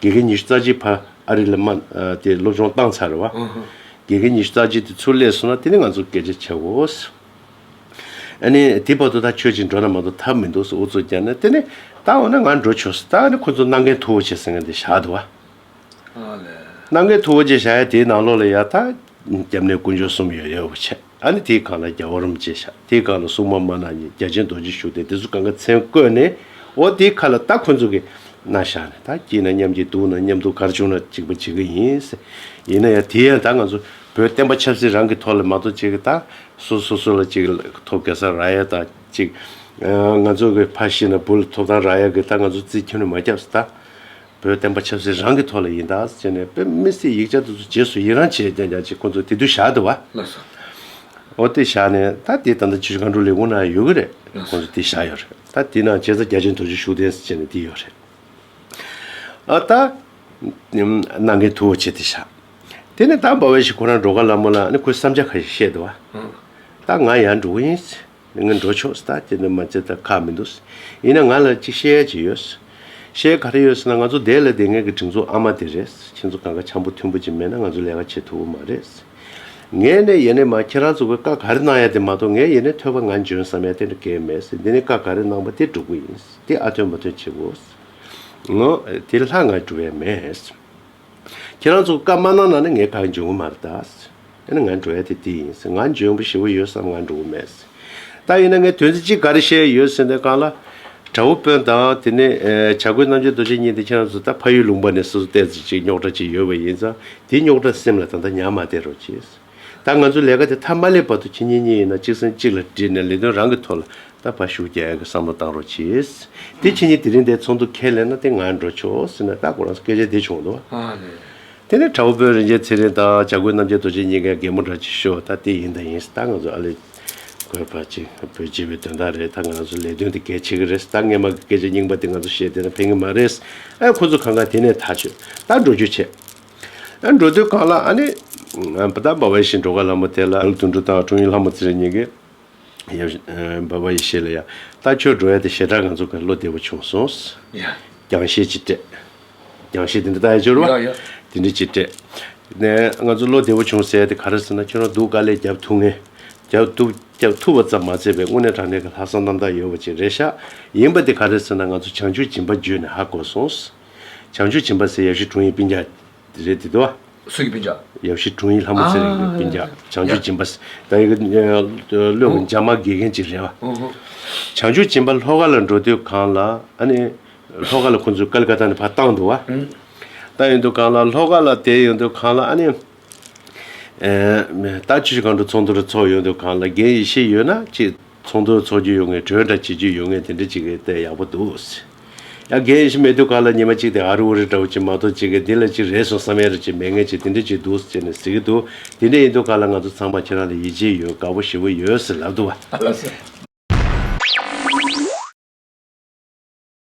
Speaker 2: དགེ་རྒན་ཉི་ཤུ་རྩ་གཅིག་ཕར་ཨ་རི་ལ་མ་དེ་སློབ་སྦྱོང་བཏང་ཚར་བ། དགེ་རྒན་ཉི་ཤུ་རྩ་གཅིག་དེ་ཚུར་སླེབས་སོང་ན་དེ་ནི་ང་ཚོ་སྐད་ཆ་བྱ་བའོ། ཨ་ནི་དེ་བར་དུ་ད་ཁྱོད་ཅིག་འགྲོ་ན་མ་གཏོགས་ཐབས་མི་འདུག་སོ་འུ་ཚོ་རྒྱབ་ནས་དེ་ནི་ད་འོ་ན་ང་འགྲོ་ཆོག་ཟེར་ད་ནི་ཁོ་ཚོ་གནང་མཁན་ཐུ་བོ་ཆེ་ཟེར་མཁན་དེ་བཞག་འདུག་བ། གནང་མཁན་ཐུ་བོ་ཆེ་བཞག་ཡ་དེའི་ནང་ལོགས་ལ་ཡ་ད་རྒྱབ་ནས་དཀོན་མཆོག་གསུམ་ཡོད་ཡོད་བ་བྱས། ད་ནི་དེའི་སྒང་ལ་རྒྱ་བ་རུམ་ཅེས་བྱ། དེའི་སྒང་ལ་སྲུང་མ་མ་ན་ཉིད་རྒྱ་ཆེན་རྡོ་རྗེ་བཞུགས་ཏེ་དེ་ཚོ་གང་གི་མཚན་བཀོད་ནས། འོ་དེའི་ཁ་ལ་ད་ཁོ་ཚོ་གི། ན་བཞག་ནས་ད་སྐྱིད་ན་མཉམ་སྐྱིད་སྡུག་ན་མཉམ་སྡུག་གར་བྱུང་ན་གཅིག་པ་བྱེད་ཀྱི་ཡིན། ཡིན་ན་ཡང་དེ་ཡང་ད་ང་ཚོ་བོད་བསྟན་པ་ཆབ་སྲིད་རང་གི་ཐོག་ལས་མ་གཏོགས་གཅིག་གི་ད་སོ་སོ་སོ་ལ་གཅིག་ཐོབ་གེ་སར་ར་ཡ་ད་གཅིག། ང་ཚོ་གི་ཕ་ཤི་ན་བུ་ལ་ཐོབ་ད་ར་ཡ་གི་ད་ང་ཚོ་རྩིས་ཁྱིམ་ལ་མ་སྐྱབས་སུ་ད། བོད་བསྟན་པ་ཆབ་སྲིད་རང་གི་ཐོག་ལ་ཡིན་ད་ཅེས་ནས་དཔེ་མི་སྲིད་ཡིག་ཆ་དེ་ཚོ་རྗེས་སུ་ཡི་རང་བྱེད་ཀྱང་ཀྱང་ཅིག་ཁོང་ཚོ་དེ་དུས་བཞག་འདུག་བ། ལ་ས། འོ་དེ་བཞག་ནས་ད་དེ་ད་ལྟ་ཇུས་གང་དྲུག་ལས་ཁུངས་ནང་ཡོད་ཀྱི་རེད་ལ་ཁོང་ས། ཚོ་དེ་བཞག་ཡོད་རེད་ད་དེ་ནང་བྱས་ཙང་རྒྱ་ཆེན་དོ་ཅོ་བཞུགས་གདན་ས་བྱས་ནས་དེ་ཡོད་རེད། ཨ་ད། ནང་གི་ཐུ་བོ་བྱས་དེ་བཞག་དེ་ནས་ད་འབའ་བས་ཤིག་ཁོ་རང་འགྲོ་ག་ལ་མོ་ལ་ནི་ཁོས་བསམ་འཆར་ག་ཞིག་བཤད་འདུག་བ། ད་ང་ཡར་འགྲོ་གི་ཡིན། ངས་འགྲོ་ཕྱོགས་ལྟ་ཅི་འདོད་མ་བྱེད་ད་ཁག་མི་འདུག་ཡིན་ན་ང་ལ་གཅིག་བཤད་ཡ་གཅིག་ཡོད། བཤད་ག་རེ་ཡོད་ཟེར་ན་ང་ཚོ་སྡེ་ལ་དེ་སྔའི་གི་སྒྲིག་འཛུགས་ཨ་མ་དེ་རེད་ཁྱེད་ཚོ་ག་འགའ་འཆམ་པོ་མཐུན་པོ་ཅིག་མེད་ན་ང་ཚོ་ལས་ཀ་བྱེད་ཐུབ་པོ་མ་རེད། ངས་ནས་ཡེ་ནས་མ་ཁྱེད་རང་ཚོ་གི་བཀའ་ག་རེ་གནང་ཡ་དེ་མ་གཏོགས་ངས་ཡེ་ནས་ཐོས་པ་ང་འཇོན་བསམ་ཡ་དེ་འདྲ་གས་མེད་འདི་ནས་བཀའ་ག་རེ་གནང་པ་དེ་འགྲུབ་གི་ཡིན་དེ་ཨ་ཐོན་མ་ཐོན་བྱེད་དགོས། ངོ། དེ་ལྷ་ང་འགྲུབ་ཡ་མེད། ཁྱེད་རང་ཚོ་བཀའ་མ་གནང་ན་ནི་ངས་གང་འབྱུང་གི་མ་རེད། ད་ནི་ང་འགྲོ་ཡ་དེ་འདི་ཡིན་ཟེར་ང་འཇོན་པོ་ཞེ་བོ་ཡོད་བསམ་ང་འགྲོ་གི་མེད་ཟེར། ད་ཡིན་ན་ངས་དོན་ཚིག་གཅིག་ག་རེ་བཤད་ཡི་ཡོད་ཟེར་ནས་གང་ལ། དགྲ་བོ་དཔོན་དང་དེ་ནས་བྱ་རྒོད་རྣམ་རྒྱལ་རྡོ་རྗེ་གཉིས་འདི་ཁྱེད་རང་ཚོ་ད་ཕ་ཡུལ་ལུང་པ་ནས་སོ་སོ་བལྟས་ཟེར་ཅིག་རྙོག་དྲ་ཅིག་ཡོད་པ་ཡིན་ཙང་དེའི་རྙོག་དྲ་སེམས་ལ་ད་ལྟ་ཉར་མ་བསྡད་རོགས་གྱིས། ད་ང་ཚོ་ལས་ཀ་དེ་མཐའ་མ་ལེགས་བར་དུ་ཕྱི་ཉིན་གཉིས་ཡིན་ན་གཅིག་སེམས་གཅིག་ལ་དྲིལ་ནས་ལས་དོན་རང་གི་ཐོག་ལ་ད་བར་ཞུགས་རྒྱལ་གྱི་བསམ་བློ་བཏང་རོགས་གྱིས། དེ་ཕྱི་ཉིན་དེ་རིང་འདའི་ཚོགས་འདུ་ཁས་ལེན་ན་དེ་ང་འགྲོ་ཆོག་ཟེར་ན་ད་ཁོ་རང་སྐད་ཆ་འདི་བྱུང་འདུག་ཨ་ལེ།
Speaker 1: དེ་ནས་དྲ་བོ་དཔོན་
Speaker 2: རིན་ཆེན་ཚེ་རིང་དང་བྱ་རྒོད་རྣམ་རྒྱལ་རྡོ་རྗེ་གཉིས་ཀས་རྒན་མོ་འདྲ་གྱིས་ཤོ་ད་དེ་ཡིན་ད་ཡིན་ཟེར་ད་ང་ཚོ་ཨ་ལེ། དགོས་པ་གཅིག་བོད་སྤྱི་བའི་དོན་དག་རེད་ད་ང་ཚོ་ལས་དོན་དེ་གལ་ཆེ་གི་རེད་ད་ངན་མ་གི་སྐད་ཆ་རྙིང་པ་དེ་ང་ཚོ་བཤད་དེ་ན་ཕན་གི་མ་རེད་ཨེ་ཁོ་ཚོ་གང་གང་དེ་ནས་ད་ཆོས་ད་འགྲོ་རྒྱུ་བྱས། འགྲོ་དོན་གང་ལགས་ཨ་ནི། བ་དག་འབའ་བ་ཡེ་ཤེས་འགྲོ་ག་ལྷ་མོ་དེ་ལ། ལུགས་དུ་འགྲོ་དང་འཁྲུངས་ཡུལ་ལྷ་མོ་ཙི་རི་གཉིས་ཀའི། འབའ་བ་ཡེ་ཤེས་ལ་ཡང། ལྟ་ཁྱོད་འགྲོ་ཡ་དེ་ཞེ་དྲག་ང་ཚོ་གར་བློ་བདེ་བོ་བྱུང་སོང། རྒྱང་
Speaker 1: ཤེལ་གྱིས་སྤྲད།
Speaker 2: རྒྱང་ཤེལ་དེ་འདྲ་ད་ཡང་འབྱོར་བ། དེ་འདྲ་གྱིས་སྤྲད། ནས་ང་ཚོ་བློ་བདེ་བོ་བྱུང་ཟེར་དེ་ག་རེ་ཟེར་ན་ཁྱོད་རང་སྡུག་དཀའ་ལས་བརྒྱབ་ཐུབ་ངེས། བརྒྱབ་ཐུབ་བརྒྱབ་ཐུབ་བ་ཙམ་མ་ཚད་པའི་དངོས་གནས་དྲང་གནས་ཀྱི་ལྷག་བསམ་རྣམ་དག་ཡོད་བ་ཅིག་རེད་ཤག་ཡིན་པ་དེ་ག་རེ་ཟེར་ན་ང་ཚོ་བྱང་ཆུབ་སྦྱིན་པ་བརྒྱུད་ནས་ཧ་གོ་སོང། བྱང་ཆུ་བྱིན་པ་སེ་ཡབ་ཤི་དྲུང་ཡིག་པིན་ཇག། རེད་དེ་དོ། སུ་ཡི་པིན་ཇག།
Speaker 1: ཡབ་ཤི་དྲུང་ཡིག་ལྷ་མོ་
Speaker 2: ཚེ་རིང་གི་པིན་ཇག་བྱང་ཆུ་བྱིན་པ། ད་ཡི་གི་བློས་གི་འཇག་མ་དགེ་མཁན་གཅིག་རེད་བ། བྱང་ཆུ་བྱིན་པ་ལྷོ་ཁ་ལ་འགྲོ་དུས་གང་ལ་ཨ་ནི། ལྷོ་ཁ་ལ་ཁོང་ཚོས་ཀ་ལི་ཀ་ཏཱ་ནི་ཕ་བཏང་འདུག་བ། བཏང་ཡོད་འདུག་གང་ལ་ལྷོ་ཁ་ལ་བསྡད་ཡོད་འདུག་གང་ལ་ཨ་ནི། ད་ཆུ་ཆུ་གང་དུ་ཚོགས་འདུ་རུ་ཚོགས་ཡོད་འདུག་གང་ལ་རྒན་ཡེ་ཤེས་ཡོད་ན་ཅིག། ཚོགས་འདུ་འཚོགས་རྒྱུ་ཡོད་ངེས་གྲོས་འདྲ་བྱེད་རྒྱུ་ཡོད་ངེས་དེ་འདྲ་བྱེད་མཁན་དེ་ཡག་པོ་འདུག། ཡ་རྒན་ཡིན་ཞེས་མེད་དུས་ག་ལ་ཉི་མ་གཅིག་དེ་ཨ་རི་ཨོ་རི་འདྲ་བོ་ཅིག་མ་གཏོགས་བྱེད་མཁན་འདི་ལ་ཅིག་རེད་སོང་བསམ་ཡ་རེད་ཅེས་མེད་ངེས་ཅིག་དེ་འདྲ་ཅིག་འདུག་ཅེས་ནས་ཟེར་གྱི་འདུག་དེ་འདྲ་ཡིན་དུས་ག་ལ་ང་ཚོ་ཚང་མ་ཁྱེད་རང་ལ་ཡིད་ཆེས་ཡོད་
Speaker 1: དགའ་བོ་
Speaker 2: ཞེ་བོ་ཡོད་ཟེར་ལབ་འདུག་བ།